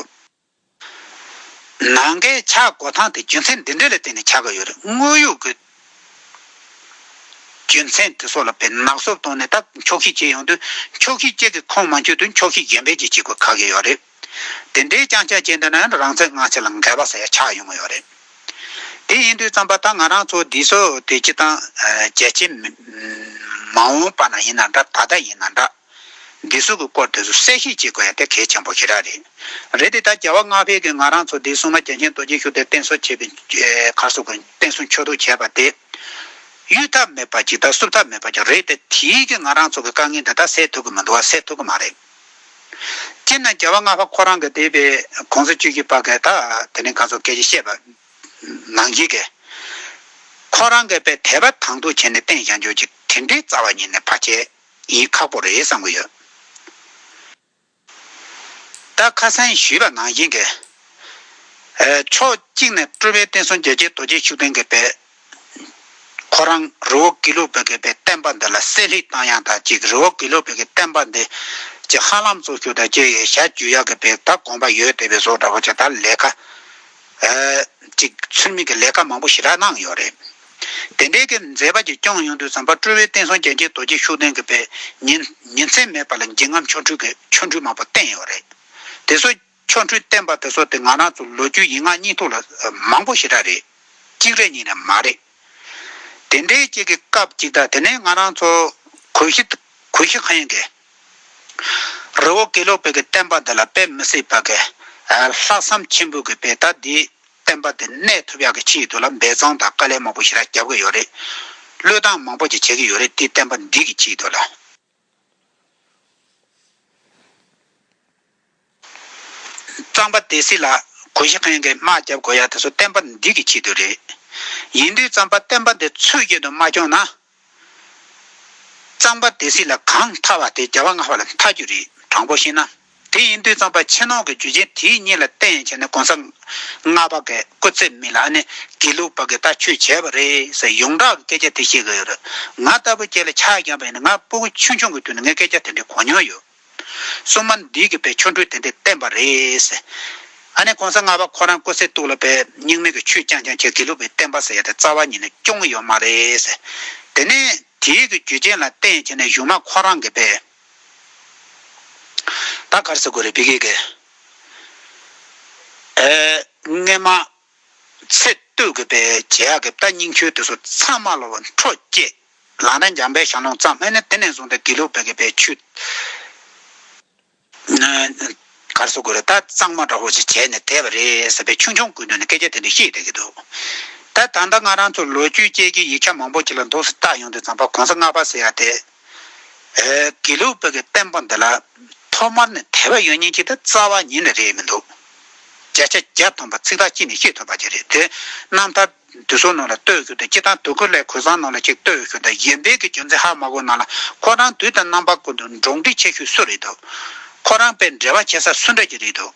[SPEAKER 1] ནང་ཁའི་ཆག་སྒོ་ཐང་དེ་རྒྱུ་མཚན་འདི་འདྲ་ལ་བརྟེན་ནས་ཆག་གི་ཡོད་རེད་དངོས་ཡོད་ཀྱི་རྒྱུ་མཚན་དེ་ཚོ་ལ་བེད་ནག་སོབ་བཏང་ནས་ད་འཁྱོག་ཤིག་བྱེད་ཡོང་དུས་འཁྱོག་ཤིག་བཅས་ཀྱི་ཁོངས་མ་འཁྱོལ་དུས་འཁྱོག་ཤིག་གཞན་པའི་རྗེས་བྱེད་དགོས་ཁག་གི་ཡོད་རེད། དེ་འདྲའི་རྐྱང་ཆགས་ཅན་དེ་ན་རང་ཚིག་སྔགས་ཚིག་ལ་འགལ་བ་ཟེར་ཆགས་ཡོང་གི་ཡོད་རེད། དེ་ཡིན་དུས་བརྩམས་པ་ད་ང་རང་ཚོ་འདིས་སོ་དེ་སྤྱི་དང། རྒྱལ་སྤྱི། མ་འོངས་པ་ན་ཡིན་ན་འདྲ་ད་ལྟ་ཡིན་ན་འདྲ། འདི་སོགས་ཀྱི་སྐོར་དེ་ཚོ་གསལ་བཤད་བྱེད་དགོས་ཡ་དེ་གལ་ཆེན་པོ་ཞིག་རག་རེད། རེད་དེ་ད་རྒྱལ་བ་སྔགས་ཕལ་གྱིས་ང་རང་ཚོ་འདིས་སྲུང་མ་རྒྱལ་ཆེན་རྡོ་རྗེ་ཤུགས་དེ་བསྟེན་གསོལ་བྱེད་པའི་ཁར་སོགས་ཀྱི་བསྟེན་གསོལ་མཆོད་བསྟོད་བྱས་པ་དེ། གཡུལ་ཐབས་མེད་པ་ཅིག་དང་བསུབ་ཐབས་མེད་པ་ཅིག་རེད་དེ་དེས་ཀྱང་ང་རང་ཚོ་གི་དཀའ་ངལ་འདི་དག་སེལ་ཐུབ་ཀྱི་མི་འདུག་བ་སེལ་ཐུབ་ཀྱི་མ་རེད། སྤྱིར་ན་རྒྱལ་བ་ལྔ་པ་ཁོ་རང་གི་སྡེ་པའི་གོང་ས་བཅུ་གྱིས་པ་གས་ད་དེ་ནས་ག་ཚོད་སྐད་ཅིག་བཤད་པ་ནང་བཞིན་གས། ཁོ་རང་གས་པའི་དད་པ་དང་དུ་བྱས་ནས་བསྟན་བཞག་འཇོག་ཅིག་དེ་འདྲའི་རྩ་བ་ཉིད་ནས་བར་ཆད་ཡིན་ཁག་པོ་རེད་བསམ་གི་ཡོད། ད་ཁ་སང་ཞུས་པ་ནང་བཞིན་གས། ཕྱོགས་གཅིག་ནས་སྤྲུལ་པའི་བསྟན་སྲུང་རྒྱལ་གཅེས་རྡོ་རྗེ་ཤུགས་ལྡན་གས་པའི་ཁོ་རང་རི་བོ་ཀི་ལོ་བི་ཀེ་པའི་བསྟན་པ་འདི་ལ་གསལ་ལྷིག་བཏང་ཡང་དང་གཅིག་རི་བོ་ཀི་ལོ་བི་ཀེ་བསྟན་པ་འདི་ཀྱི་ཧ་ལམ་གཙོ་ཤུགས་དང་སྤྱོད་ཡུལ་ཞྭ་རྒྱུས་ཡག་གི་བེག་ད་དགོངས་པ་ཡོད་དེ་བས་བཟོ་འདྲ་བོ་ཅིག་དང་ལས་ཀ་ཅིག་ཚུལ་མིན་གྱི་ལས་ཀ་མང་པོ་ཞི་དྲག་གནང་ཡོད་རེད། དེ་འདྲའི་གི་མཛད་པ་ཅིག་བསྐྱངས་ཡོང་དུས་བསམ་པ་སྤྲུལ་བའི་བསྟན་སྲུང་རྒྱལ་གཅེས་རྡོ་རྗེ་ཤུགས་ལྡན་གི་བས་ཉིན་མཚན་མེད་པ་ལ་འཇིགས་རྔམ་ཆོ་འཕྲུལ་གྱི་ཆོ་འཕྲུལ་མང་པོ་བསྟན་ཡོད་རེད། དེ་སོ། ཆོ་འཕྲུལ་བསྟན་པ་དེ་ཚོ་དེ་སྔ་ན་ཚོ་ལོ་རྒྱུས་ཡིག་ངག་གཉིས་ཐོག་ལ་མང་པོ་ཞེ་དྲག་རེད། གཅིག་རེད་གཉིས་ནས་མ་རེད། དེ་འདྲའི་གཅིག་གི་སྐབས་ཅིག་དང་དེ་ནས་ང་རང་ཚོ་གོས་ཤི་གོས་ཤི་གང་ཡིན་ཀི། རི་བོ་དགེ་ལུགས་པའི་གི་བསྟན་པ་འདི་ལ་དཔེ་མི་སྲིད་པ་ཀི། ལྷག་བསམ་ཆེན་པོས་གི་པའི་ད་འདིའི་བསྟན་པ་འདི་གནས་ཐུབ་ཡག་གི་ཕྱི་ཡི་དུ་ལ་འབད་བརྩང་དང་དཀའ་ལས་མང་པོ་ཞེ་དྲག་རྒྱབ་ཀི་ཡོད་རེད། བློས་བཏང་མང་པོ་ཅིག་བྱེད་ཀི་ཡོད་རེད་དེའི་བསྟན་པ་འདི་གི་ཕྱི་ཡི་དུ་ལ། གཙང་པ་དེ་སྲིད་ལ་གོ་ཞེ་མཁན་གྱིས་དམག་རྒྱབ་དགོས་ཡ་དེ་ཚོ་བསྟན་པ་འདི་གི་ཆེད་དུ་རེད། ཡིན་དུས་གཙང་པ་བསྟན་པ་འདི་ཚོས་ཆེད་དུ་མ་སྐྱོང་ན། གཙང་པ་དེ་སྲིད་ལ་གང་མཐའ་བ་དེ་བརྒྱ་བ་ལྔ་བ་ལ་མཐའ་རྒྱུ་རེད་དྲང་པོ་བཤད་ན། དེ་ཡིན་དུས་ཙམ་པ་ཆེ་ནོང་གི་རྒྱུ་རྐྱེན་དེ་གཉིས་ལ་བརྟེན་ཡིན་བྱས་ནས་གོང་ས་ལྔ་པ་གའི་སྐུ་ཚེ་མི་ལ་ཨ་ནེ་དགེ་ལུགས་པ་གའི་ལྟ་ཆོས་བྱས་པ་རེད་ཟེར་ཡོངས་གྲགས་ཀྱི་སྐད་ཆ་དེ་བཤད་གི་ཡོད་རེད། ང་ལྟ་བུ་ཁྱེད་ལ་ཆ་རྐྱང་པ་ཡིན་ན་ང་སྤུ་གུ་ཆུང་ཆུང་གི་དུས་ནས་ངས་སྐད་ཆ་དེ་འདྲའི་གོ་མྱོང་ཡོད། སྲུང་མ་འདིས་གི་པའི་ཆོ་འཕྲུལ་དེ་འདྲས་བསྟན་པ་རེད། ཨ་ནེ་གོང་ས་ལྔ་པ་ཁོ་རང་སྐུ་ཚེ་སྟུག་ལ་པའི་སྙིང་མེད་གི་ཆོས་རྐྱང་རྐྱང་བྱས་དགེ་ལུགས་པའི་བསྟན་པ་ཟེར་ཡ་དེ་རྩ་བ་ཉིད་ནས་སྐྱོང་གི་ཡོད་མ་རེད། དེ་ནས་དེའི་གི་རྒྱུ་རྐྱེན་ལ་བརྟེན་ཡིན་བྱས་ནས་གཞུག་མ་ཁོ་རང་གི་པའི། ད་གར་ཟེར་དགོས་རེད་བི་གེ་གེ། རྔན་མ། ཚེ་བསྟོད་དགོས་པའི་རྗེས་ཡག་གི་རྟ་སྙིང་ཁྱོད་དེ་སོ་ཚང་མ་ལོ་བ་འཕྲོ་བསྐྱེད། ལག་ན་འཇམ་པའི་ཞང་ལོང་གཙང་སྨེ་ནི་དེ་ནས་བཟུང་སྟེ་དེ་ལུགས་བི་གེ་པའི་ཆུ། གར་ཟེར་དགོས་རེད་རྟ་གཙང་མ་འདྲ་བོ་ཞིག་བྱས་ནས་དེད་པ་རེད་ཟེར་པའི་ཆུང་ཆུང་དགོས་ནུས་ནི་སྐད་ཆ་དེ་འདྲ་བཤད་བསྡད་ཀྱི་འདུག་ད་ད་ལྟ་ང་རང་ཚོ་ལོ་རྒྱུས་དཔྱད་མཁན་ཡིག་ཆ་མང་པོ་ཞིག་ལ་འདུག་སྲིད་རྟགས་ཡོང་དུས་ཛམ་པ་གོང་ས་ལྔ་པ་ཟེར་ཡག་དེ། དགེ་ལུགས་བོད་ཀྱི་བསྟན་པ་འདི་ལ་ཐོག་མར་ནི་དད་པ་ཡོད་ཉིན་གཅིག་དང་རྩ་བ་ཉིད་ནི་རེད་མི་འདུག་བརྒྱ་ཆ་བརྒྱ་སྟོང་པ་ཚིག་ཐག་གཅིག་ནས་ཤེས་ཐུབ་པ་ཅིག་རེད་དེ། རྣམ་ཐར་འདི་ཚོ་ནང་ལ་ལྟོས་གྱུར་ཏེ་སྤྱི་དང་དུ་ཁུར་ལས་གོས་བཟང་ནང་ལ་ཅིག་ལྟོས་གྱུར་ཏེ་གཞན་ཕན་གྱི་རྒྱུ་མཚན་ཧ་མ་གོ་ནང་ལ་ཁོ་རང་དུས་དང་རྣམ་པ་ཀུན་ཏུ་འགྲོགས་འདྲིས་ཆེ་ཤོས་སུ་རེད་འདུག་ཁོ་རང་པས་འབྲེལ་བ་བྱེད་ས་སུ་འདྲ་གྱི་རེད་འདུག་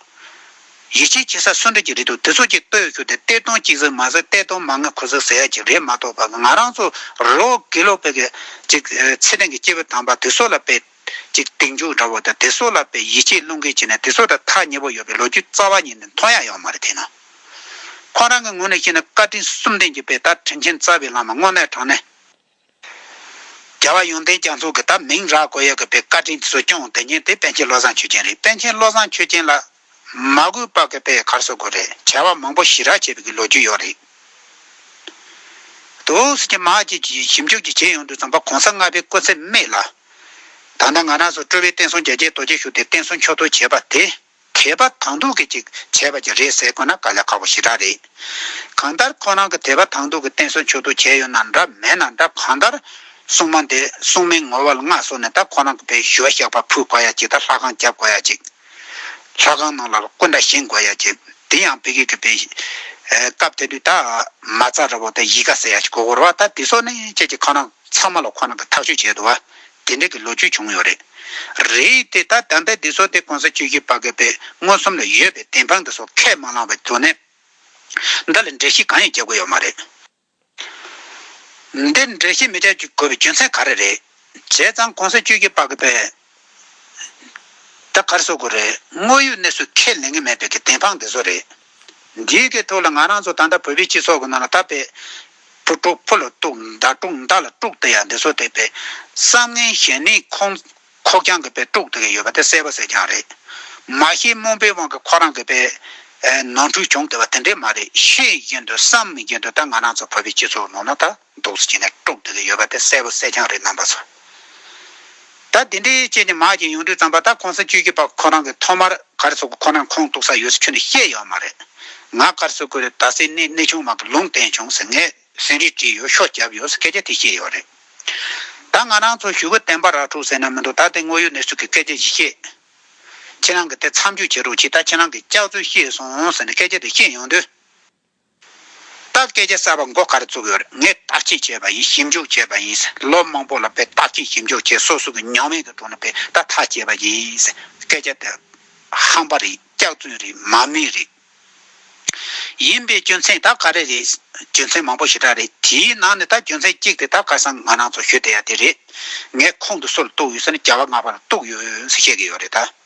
[SPEAKER 1] ཡིད་ཆེས་བྱེད་ས་སུ་འདྲ་གྱི་རེད་འདུག་དེ་ཚོ་གཅིག་ལྟོས་ཤོར་ཏེ་གཏེར་སྟོང་གཅིག་ཟེར་མ་ཟེར་གཏེར་སྟོང་མ་ལྔ་གོ་ཟེར་ཟེར་ཡ་གཅིག་རེད་མ་གཏོགས་པ་ང་རང་ཚོ་རོ་གི་ལོ་པད་ཀྱི་ཅིག་ཚེ་རིང་གི་སྐྱེས་བུ་དམ་པ་དེ་ཚོ་ལ་པད་ཅིག་སྟེང་འཇུག་འདྲ་བོ་དང་དེ་ཚོ་ལ་པད་ཡིད་ཆེས་བླུན་འགེལ་བྱེད་ནས་དེ་ཚོ་དང་ཐག་ཉེ་བོ་ཡོད་པའི་ལོ་རྒྱུས་རྩ་བ་ཉིད་ནས་མཐོང་ཡག་ཡོག་མ་རེད་དེ་ནི་ཁོང་རང་གི་ངོས་ནས་བཤད་ན་བཀའ་དྲིན་གསུམ་ལྡན་གྱི་པད་དར་དྲན་ཆེན་རྩ་བའི་བླ་མ་དངོས་གནས་དྲང་གནས། རྒྱལ་བ་ཡོན་ཏན་རྒྱ་མཚོ་གི་དང་མིང་རག་གོ་ཡ་གི་པའི་བཀའ་དྲིན་དེ་ཚོ་སྐྱོང་དེ་ཉིན་དེ་པན་ཆེན་བློ་བཟང་ཆོས་ཅན་རེད་པན་ཆེན་བློ་བཟང་ཆོས་ཅན་ལ་མ་གུས་པ་གི་པའི་གར་སོ་དགོས་རེད་བྱ་བ་མང་པོ་ཞི་རག་བྱེད་པའི་གི་ལོ་རྒྱུས་ཡོད་རེད་དོ་སི་ཀྱི་མ་ཀྱི་ཀྱི་ཞིབ་འཇུག་ཀྱི་བྱེད་ཡོང་དུས་ཚངས་པ་གོང་ས་ལྔ་པའི་སྐུ་ཚེ་སྨད་ལ། ད་ལྟ་ང་རང་ཚོ་སྤྲུལ་བའི་བསྟན་སྲུང་རྒྱལ་གཅེས་རྡོ་རྗེ་ཞུ་དེ་བསྟན་སྲུང་མཆོག་ཏུ་བྱས་པ་དེ། དད་པ་དང་སྡུག་གི་ཅིག་བྱས་པ་ཅིག་རེད་ཟེར་དགོས་ན་དཀའ་ལས་ཁག་པོ་ཞེ་དྲག་རེད། གང་ལྟར་ཁོ་རང་གི་དད་པ་དང་སྡུག་གི་བསྟན་སྲུང་ཆུག་ཐུག་བྱས་ཡོད་ན་འདྲ་མེད་ན་འདྲ་གང་ལྟར། སྲུང་མ་འདི་སྲུང་མའི་ངོ་བོ་ལ་མངའ་བཟུང་ནས་ད་ཁོ་རང་གི་བུའི་ཞུ་བ་བཤགས་པ་ཕུལ་དགོས་ཡ་ཅིག་ད་ལྷ་ཁང་བརྒྱབ་དགོས་ཡ་ཅིག། ལྷ་ཁང་ནང་ལ་སྐུ་འདྲ་བཞེངས་དགོས་ཡ་ཅིག་དེ་ཡང་བི་གེ་གི་བི། སྐབས་དེ་དུས་ད་མ་ཚ་ར་བོ་དེ་ཡིད་དགའ་ཟེར་ཡ་ཅིག་གོ་གོ་ར་བ་ད་དེ་སོགས་ནི་ཁྱེད་ཀྱི་ཁ་རང་ཚང་མ་ལ་ཁོ་རང་གི་ཐག་གཅོད་བྱས་འདུག་བ་དེ་འདྲ་གི་ལོ་རྒྱུས་བྱུང་ཡོད་རེད། རེད་དེ་ད་དམ་པའི་སྡེ་ཚོགས་དེ་གོང་ས་ཆོས་རྒྱུད་དཔའ་རྒོད་པའི་མངོན་སུམ་ལ་ཡོད་པའི་བདེན་དཔང་འདི་ཚོ་ཁས་མ་བླངས་བའི་དོན་ནི། འདི་ལ་འགྲེལ་བཤད་གང་ཡང་བྱ་དགོས་ཡོད་མ་རེད། འདིར་འགྲེལ་བཤད་མི་བྱ་དགོས་པའི་རྒྱུ་མཚན་ག་རེ་རེད། བྱས་ཙང་གོང་ས་ཆོས་རྒྱུད་དཔའ་རྒོད་པས། ད་གར་བཟོ་དགོས་རེད་དངོས་ཡོད་གནས་ཚུལ་ཁས་ལེན་གི་མེད་པའི་གི་བདེན་དཔང་འདི་ཚོ་རེད། འདིའི་གི་ཐུགས་ལ་ང་རང་ཚོ་ད་ལྟ་བོད་པའི་སྤྱི་ཚོགས་ཀྱི་ནང་ལ་ད་བེ། བུ་དཀྲུག་ཕོ་ལ་གཏུག་མདའ་དཀྲུག་མདའ་ལ་དཀྲུག་དེ་ཡང་འདི་ཚོ་དེ་བེ། བསམ་ངན་གཞན་ནི་ཁོང། ཁོག་རྐྱང་གི་བེ་དཀྲུག་དེ་གི་ཡོད་པ་དེ་གསལ་བ་གསལ་རྐྱང་རེད། མ་ཤེས་རྨོངས་པའི་དབང་གི་ཁོ་རང་གི་བེ། ནོར་འཁྲུལ་བྱུང་དེ་བ་དེ་འདྲས་མ་རེད་ཤེས་ཀྱིན་དུ་བསམ་མི་ཀྱིན་དུ་ད་ང་རང་ཚོ་བོད་པའི་སྤྱི་ཚོགས་ནང་ན་ད། རྡོག་བརྫིས་བྱས་ནས་དཀྲོག་བསྡུས་ལ་ཡོད་པ་དེ་གསལ་པོ་གསལ་རྐྱང་རེད་རྣམ་པ་ཚོ། ད་དེ་འདྲའི་ཅན་ནི་མར་གྱིས་ཡོང་དུས་རྩམ་པ་ད་གོང་ས་བཅོས་ཀྱི་བར་ཁོ་རང་གི་ཐོག་མར་གར་སོ་དགོས་ཁོ་ནའི་ཁོངས་གཏུགས་ས་ཡོད་ས་ཁྱོད་ནས་ཤེས་ཡོད་མ་རེད། ང་གར་སོ་དགོས་རེད་ད་སེ་གནས་གནས་ཆུང་མང་གི་ལུང་བསྟན་བྱུང་ཟེར་ངས་ཟིན་རིས་བྲིས་ཡོད་ཤོག་བརྒྱབ་ཡོད་ས་སྐད་ཆ་དེ་ཤེས་ཡོད་རེད། ད་ང་རང་ཚོ་ཞུ་བོད་བསྟན་པ་རག་འཁྲུག་ཟེར་ན་མི་འདུག་ད་དེ་དངོས་ཡོད་གནས་ཚུལ་གྱི་སྐད་ཆ་བཞི་ཤེས། ཁྱེད་རང་གི་དེ་མཚམས་འཇོག་བྱེད་རོགས་གྱིས་ད་ཁྱེད་རང་གི་སྐྱག་རྫུན་ཤེས་སོང་ཟེར་ནས་སྐད་ཆ་དེ་ཤེས་ཡོང་དུས། བརྟག་དཔྱད་བྱེད་ས་པ་མགོ་ཁར་བཙུགས་ཡོད་ངས་བརྟག་དཔྱད་བྱས་པ་ཡིན་ཞིབ་འཇུག་བྱས་པ་ཡིན་ལོ་མང་པོ་ལ་དཔེ་བརྟག་དཔྱད་ཞིབ་འཇུག་བྱས་སོ་སོ་གི་མྱོང་བས་ཀྱི་དྲུང་ན་དཔེ་བརྟག་ཐག་བཅད་པ་ཡིན་སྐད་ཆ་དེ་ཧམ་པ་རེད་སྐྱག་རྫུན་རེད་མ་དམིགས་རེད། ཡིན་པའི་རྒྱུ་མཚན་ད་ག་རེ་རེད་རྒྱུ་མཚན་མང་པོ་ཞེ་དྲག་རེད་དེའི་ནང་ནས་ད་རྒྱུ་མཚན་གཅིག་དེ་ད་ག་སང་ང་རང་ཚོ་ཞུ་བསྡད་ཡ་དེ་རེད་ངས་ཁོང་གི་སོ་ལ་གཏུགས་ཡོད་ས་ནི་བྱ་བ་ང་ཕ་ལ་གཏུགས་ཡོད་ཟེར་བཤད་ཀྱི་ཡོད་རེད་ད།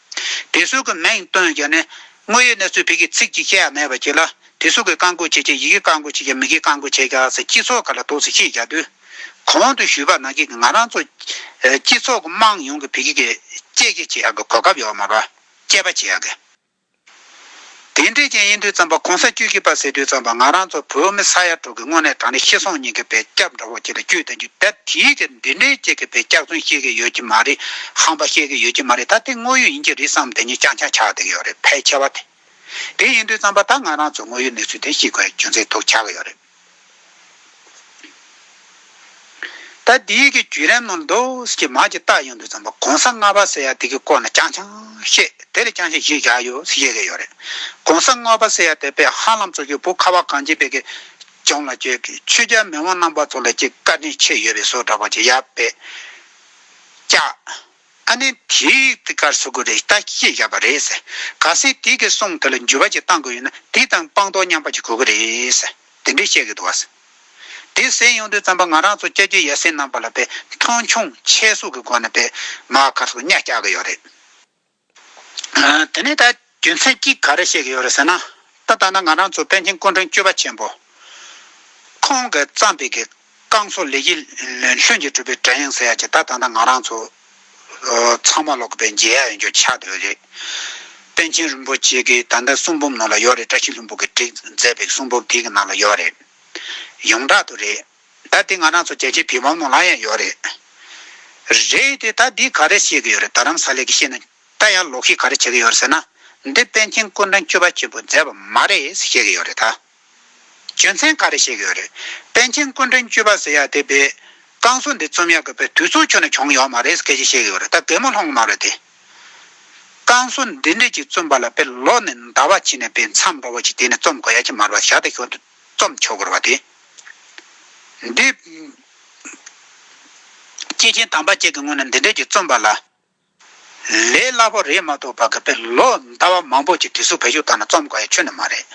[SPEAKER 1] དེ་སུག་གི་མིང་བཏོན་ཀྱང་ནི། དངོས་ཡོད་གནས་ཚུལ་བོད་ཀྱི་ཚིག་གཅིག་ཤད་ཡང་མེད་པ་ཅིག་ལ། དེ་སུག་གི་བཀའ་འགོ་བྱེད་ཀྱང་ཡི་གེ་བཀའ་འགོ་བྱེད་ཀྱང་མི་གི་བཀའ་འགོ་བྱེད་ཀྱང་སི་སྤྱི་ཚོགས་ག་ལ་དོགས་སི་ཤེས་རྒྱག་དུས། གོང་དུ་ཞུས་པ་ནང་གི་ང་རང་ཚོ། སྤྱི་ཚོགས་ཀི་དམངས་ཡོངས་ཀི་བོད་ཀི་གི་དཔྱད་ཀྱི་བྱེད་ཡག་གི་གོ་སྐབས་ཡོག་མ་པ། དཔྱད་པ་བྱེད་ཡག་གི། དེ་འདྲའི་རྐྱེན་ཡིན་དུས་རྩམ་པ་གོང་ས་བཅུད་ཀྱི་པ་ཟེར་དུས་རྩམ་པ་ང་རང་ཚོ་བོད་མི་ས་ཡ་དྲུག་གི་སྔོན་ནས་གྲངས་རིག་ཤེས་སོང་སྙིང་གི་བེ་སྐྱབས་འདྲ་བོ་ཁྱེད་ལ་བཅུད་ལྡན་རྒྱུ་ད་དེའི་ཕྱིར་འདི་འདྲའི་ཅིག་གི་བེ་སྐྱབས་ཚུན་ཤེས་ཀྱི་ཡོད་ཀྱི་མ་རེད་ཧམ་པ་ཤེས་ཀྱི་ཡོད་ཀྱི་མ་རེད་ད་དེ་དངོས་ཡོད་ཡིན་གྱི་རེད་བསམ་དེ་ཉིད་ཅང་ཅང་ཆགས་བསྡད་ཀྱི་ཡོད་རེད་ཕལ་ཆེ་བ་དེ། དེ་ཡིན་དུས་རྩམ་པ་ད་ང་རང་ཚོ་དངོས་ཡོད་གནས་ཚུལ་དེ་ཤེས་དགོས་རྒྱུ་མཚན་ཐུག་ཆགས་ཀྱི་ཡོད་རེད། ད་འདི་ཡི་གི་རྒྱུད་རན་ནོར་འདུག་ཀྱི་མ་ཀྱི་རྟགས་ཡོང་དུས་ཙམ་པོ་གོང་ས་ལྔ་པ་ཟེར་ཡ་དེ་གི་སྐོར་ན་རྐྱང་རྐྱང་བཤད་དེ་ལས་རྐྱང་ཞིག་གཞི་བཞག་ཡོད་ཤེས་ཀྱི་ཡོད་རེད་གོང་ས་ལྔ་པ་ཟེར་ཡ་དེ་པེ་ཧ་ལམ་ཚོ་གི་བུ་ཁ་བ་གངས་ཅན་པའི་གི་ལྗོངས་ལ་གྱི་ཆོས་རྒྱ་མི་དབང་རྣམ་པ་ཚོ་ལ་གྱི་བཀའ་དྲིན་ཆེ་ཡོད་པའི་སོ་འདྲ་པོ་ཀྱི་ཡ་པེ་ཀྱ། ཨ་ནི་དེའི་དེ་གར་ཟུག་གི་རེད་ད་ཁྱེད་བཞག་པ་རེད། ག་སྲིད་དེ་གི་སོང་དེ་ལ་འགྱུར་བ་ཅིག་བཏང་དགོས་ཡོད་ན་དེ་དང་སྤང་ཐོག་མཉམ་པ་ཅིག་དགོས་གི་རེད། དེ་འདྲས་བཤད་གི་འདུག་བ། དེ་གསན་ཡོང་དུས་བརྩམས་པ་ང་རང་ཚོ་སྐྱ་རྒྱུད་ཡ་སེ་རྣམས་པ་ལ་བས་མཐོང་ཆུང་ཆེ་ཟུག་གི་སྒོ་ནས་བས་མ་གར་སོགས་གཉའ་བཅག་གི་ཡོད་རེད། དེ་ནས་ད་རྒྱུ་མཚན་གྱིས་ག་རེ་བཤད་ཀྱི་ཡོད་རེད་ཟེར་ན། ད་ལྟ་ན་ང་རང་ཚོ་པཎ་ཆེན་སྐུ་མགྲོན་སྐྱོད་པ་ཆེན་པོ་ཁོང་གིས་བརྩམས་པའི་གི་རྐང་སོགས་ལས་གཞི་ལྷུན་གྱིས་གྲུབ་པའི་དྲ་ཡང་ཟེར་ཡག་ཅིག་ད་ད་ལྟ་ང་རང་ཚོ་ཚང་མ་ལོག་པའི་མཇལ་ཡག་ཡོད་རྒྱུ་ཆ་དེ་རེད། པཎ་ཆེན་རིན་པོ་ཆེ་གིས་ད་ལྟ་གསུང་འབུམ་ནང་ལ་ཡོད་རེད་བཀྲ་ཤིས་ལྷུན་པོ་གིས་བྲིས་མཛད་པའི་གསུང་འབུམ་དེ་གི་ནང་ལ་ཡོད་རེད། ཡོངས་གྲགས་དུ་རེད། ད་དེ་ང་རང་ཚོ་རྒྱལ་སྤྱིའི་བི་བམ་ནང་ལ་ཡང་ཡོད་རེད། རེད་དེ་ད་འདིས་ག་རེ་བཤད་ཀྱི་ཡོད་རེད་ད་རམ་ས་ལེགས་ཀྱིས་བཤད་ན་ད་ཡང་ལོག་ཤིག་ག་རེ་བྱེད་ཀྱི་ཡོད་རེད་ཟེར་ན། འདི་པཎ་ཆེན་སྐུ་མགྲོན་སྐྱོད་པ་ཆེན་པོ་མཛད་པ་མ་རེད་ཟེར་བཤད་ཀྱི་ཡོད་རེད་ད། རྒྱུ་མཚན་ག་རེ་བཤད་ཀྱི་ཡོད་རེད། པཎ་ཆེན་སྐུ་མགྲོན་སྐྱོད་པ་ཟེར་ཡག་དེ་པའི། བསྐང་གསོ་འདི་རྩོམ་ཡག་གི་པའི་དུས་ཚོགས་ཁྱོན་ནས་བྱུང་ཡོད་མ་རེད་སྐད་ཆ་བཤད་ཀྱི་ཡོད་རེད་ད་གད་མོ་ལྷོང་གི་མ་རེད་དེ། བསྐང་གསོ་འདི་འདྲ་ཅིག་རྩོམ་པ་ལ་པའི་ལོག་ནས་འདའ་བ་བྱེད་ནས་པའི་མཚམས་འགྲོ་བ་ཅིག་དེ་ནས་རྩོམ་དགོས་ཡ་ཅིག་མ་རེད་བ་ཞག་དེ་ཤོར་དུས་རྩོམ་ཆོག་གི་རེད་བ་དེ། འདི། སྐྱེས་ཆེན་དམ་པ་བཅས་ཀྱི་སྔུན་ནས་འདི་འདྲ་ཅིག་རྩོམ་པ་ལ། ལས་སླ་པོ་རེད་མ་གཏོགས་བར་སྐབས་པའི་ལོ་ཟླ་བ་མང་པོ་གྱི་དུས་སུ་བོད་གཞུང་དག་ན་རྩོམ་དགའ་ཡི་ཆོས་ནི་མ་རེད།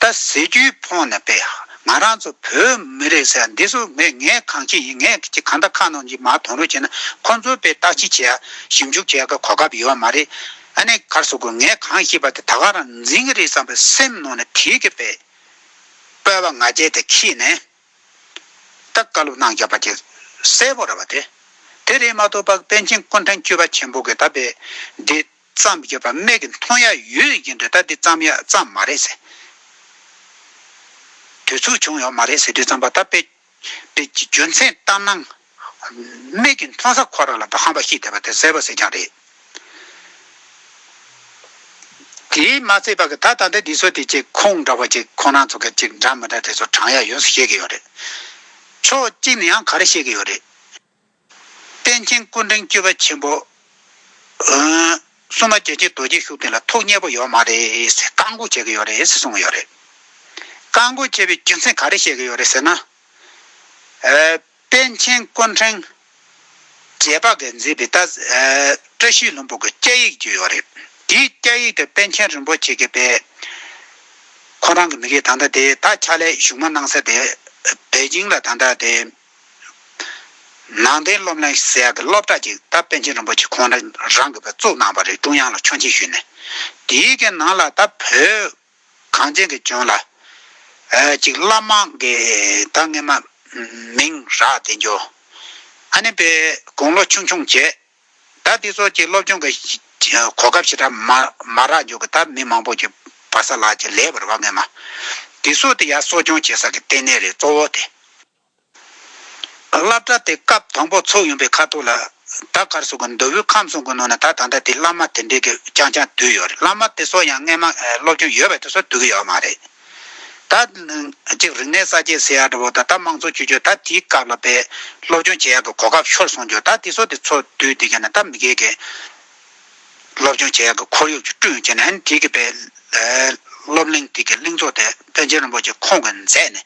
[SPEAKER 1] ད་ཟེར་རྒྱུའི་ཕོངས་ནས་པས་ང་རང་ཚོ་བོད་མི་རེད་ཟེར་ཡ་འདི་སུ་ངས་ངས་གང་བྱེད་ཡིན་ངས་ཀྱི་གང་ད་ཁ་ནང་གྱི་མ་དོང་རོས་བྱེད་ན་ཁོང་ཚོ་པས་བརྟག་དཔྱིད་བྱེད་ཡ་ཞིབ་འཇུག་བྱེད་ཡ་གི་གོ་སྐབས་ཡོད་བ་མ་རེད། ཨ་ནེ་གར་སོ་དགོས་ངས་གང་ཤེས་པ་དེ་ད་ག་རང་འཛིན་གྱི་རེད་བསམ་པའི་སེམས་ནང་ནས་དྲིས་ཀྱི་པས། སྤོས་པ་ང་རྒྱལ་དེ་ཁྱིས་ནས། ཏེ། བཀའ་སློབ་གནང་བརྒྱབ་པ་དེ་གསལ་བོར་ར་བ་སྟེ། དེ་རིང་མ་གཏོགས་པ་པཎ་ཆེན་སྐུ་མཐའ་འཁྱིལ་པ་ཆེན་པོ་གི་ད་པའི་འདི་བརྩམས་བརྒྱབ་པ་མེད་ཀི་མཐོང་ཡ་ཡོད་ཡིན་དུས་ད་འདི་བརྩམས་ཡ་བརྩམས་མ་རེད་ཟེར་དུས་ཚུགས་བྱུང་ཡོད་མ་རེད་ཟེར་དུས་བརྩམས་པ་ད་པའི་རྒྱུ་མཚན་ལྟར་སྣང། སྨད་ཀྱི་མཐོང་ས་ཁོ་རང་ལ་དྭངས་པ་ཞིག་བསྡད་པ་དེ་གསལ་བོ་གསལ་རྐྱང་རེད། དེས་མ་ཚད་པ་གི་ད་ད་ལྟ་འདི་ཚོ་དེ་ཅིག་ཁོང་འདྲ་བོ་ཅིག་ཁོང་རང་ཚོ་གི་ཅིག་འདྲ་མི་འདྲ་དེ་ཚོ་གྲངས་ཡ་ཡོད་ས་ཤེས་གི་ཡོད་རེད། ཕྱོགས་གཅིག་ནས་ཡང་ག་རེ་ཤེས་གི་ཡོད་རེད། པཎ་ཆེན་སྐུ་འཕྲེང་བཅུ་པ་ཆེན་པོ། སྲུང་མ་རྒྱལ་ཆེན་རྡོ་རྗེ་ཤུགས་ལྡན་ལ་ཐུགས་མཉེས་པོ་ཡོད་མ་རེད་ཟེར་བཀག་འགོག་བྱེད་གི་ཡོད་རེད་ཟེར་གསུངས་གི་ཡོད་རེད། བཀག་འགོག་བྱས་པའི་རྒྱུ་མཚན་ག་རེ་བཤད་གི་ཡོད་རེད་ཟེར་ན། པཎ་ཆེན་དཀོན་ཕྲེང། རྗེས་དཔག་གིས་མཛད་པའི་བཀྲ་ཤིས་ལྷུན་པོ་གི་སྐྱ་ཡིག་བརྒྱུད་ཡོད་རེད། དེའི་སྐྱ་ཡིག་དེ་པཎ་ཆེན་རིན་པོ་ཆེ་གི་པས། ཁོང་རང་གི་མི་རིགས་ད་ལྟ་དེ་ད་ཆ་ལས་བཞུགས་མ་གནང་ས་དེ་པེ་ཅིང་ལ་ད་ལྟ་དེ། ནང་བསྟན་སློབ་གླིང་ཟེར་ཡག་གི་སློབ་གྲྭ་གཅིག་ད་པཎ་ཆེན་རིན་པོ་ཆེ་ཁོང་རང་གི་པས་བཙུགས་གནང་བ་རེད་ཀྲུང་དབྱང་ལ་ཆོག་མཆན་ཞུས་ནས། དེའི་གི་ནང་ལ་ད་བོད། གངས་ཅན་གྱི་ལྗོངས་ལ། གཅིག་བླ་མ་འགས་ད་སྔས་མ། མིང་རགས་བདེ་འགྱུར། ཨ་ནེ་པའི་དགུང་ལོ་ཆུང་ཆུང་བྱས། ད་འདི་ཚོ་གཅིག་སློབ་སྦྱོང་གི། གོ་སྐབས་ཞེ་དྲག་མ། མ་རག་འཇུག་གི་ད་མི་མང་པོ་གཅིག། བ་ས་ལགས་ཀྱི་ལས་བར་བ་སྔས་མ། འདི་ཚོ་དེ་ཡར་གསོ་སྐྱོང་བྱེད་ས་གི་ལྟེ་གནས་རེད་གཙོ་བོ་དེ། བླ་བྲ་དེ་སྐབས་དང་པོ་ཚོགས་ཡོང་པའི་ཁ་ཐུག་ལ། ད་གར་སོང་གི་འདོད་བུ་ཁམས་སོང་གི་ནང་ན་ད་ད་ལྟ་དེ་བླ་མ་དེ་འདྲས་ཀྱི་རྐྱང་རྐྱང་བསྡུས་ཡོད་རེད་བླ་མ་དེ་སོགས་ཡང་རྔན་མ་སློབ་སྦྱོང་ཡོད་པའི་དེ་སོགས་བསྡུ་གི་ཡོད་མ་རེད། ད་ཅིག་རིག་གནས་གསར་བརྗེ་ཟེར་ཡག་འདྲ་བོ་ད་ད་དམངས་གཙོ་བཅོས་བསྒྱུར་ད་དེའི་སྐབས་ལ་བས་སློབ་སྦྱོང་བྱེད་ཡག་གི་གོ་སྐབས་ཤོར་སོང་རྒྱུ་ད་དེ་སོགས་དེ་ཚོ་བསྡུས་འདི་ག་ན་ད་མི་དགེ་གི། སློབ་སྦྱོང་བྱེད་ཡག་གི་ཁོར་ཡུག་ཅིག་བསྐྲུན་ཡོད་ཅེས་ནན་ཏིག་གིས་སྤེལ། སློབ་གླིང་དེ་གའི་གླིང་ཚོགས་ཐེག་པན་ཆེན་རིན་པོ་ཆེ་ཁོང་གིས་མཛད་ནས་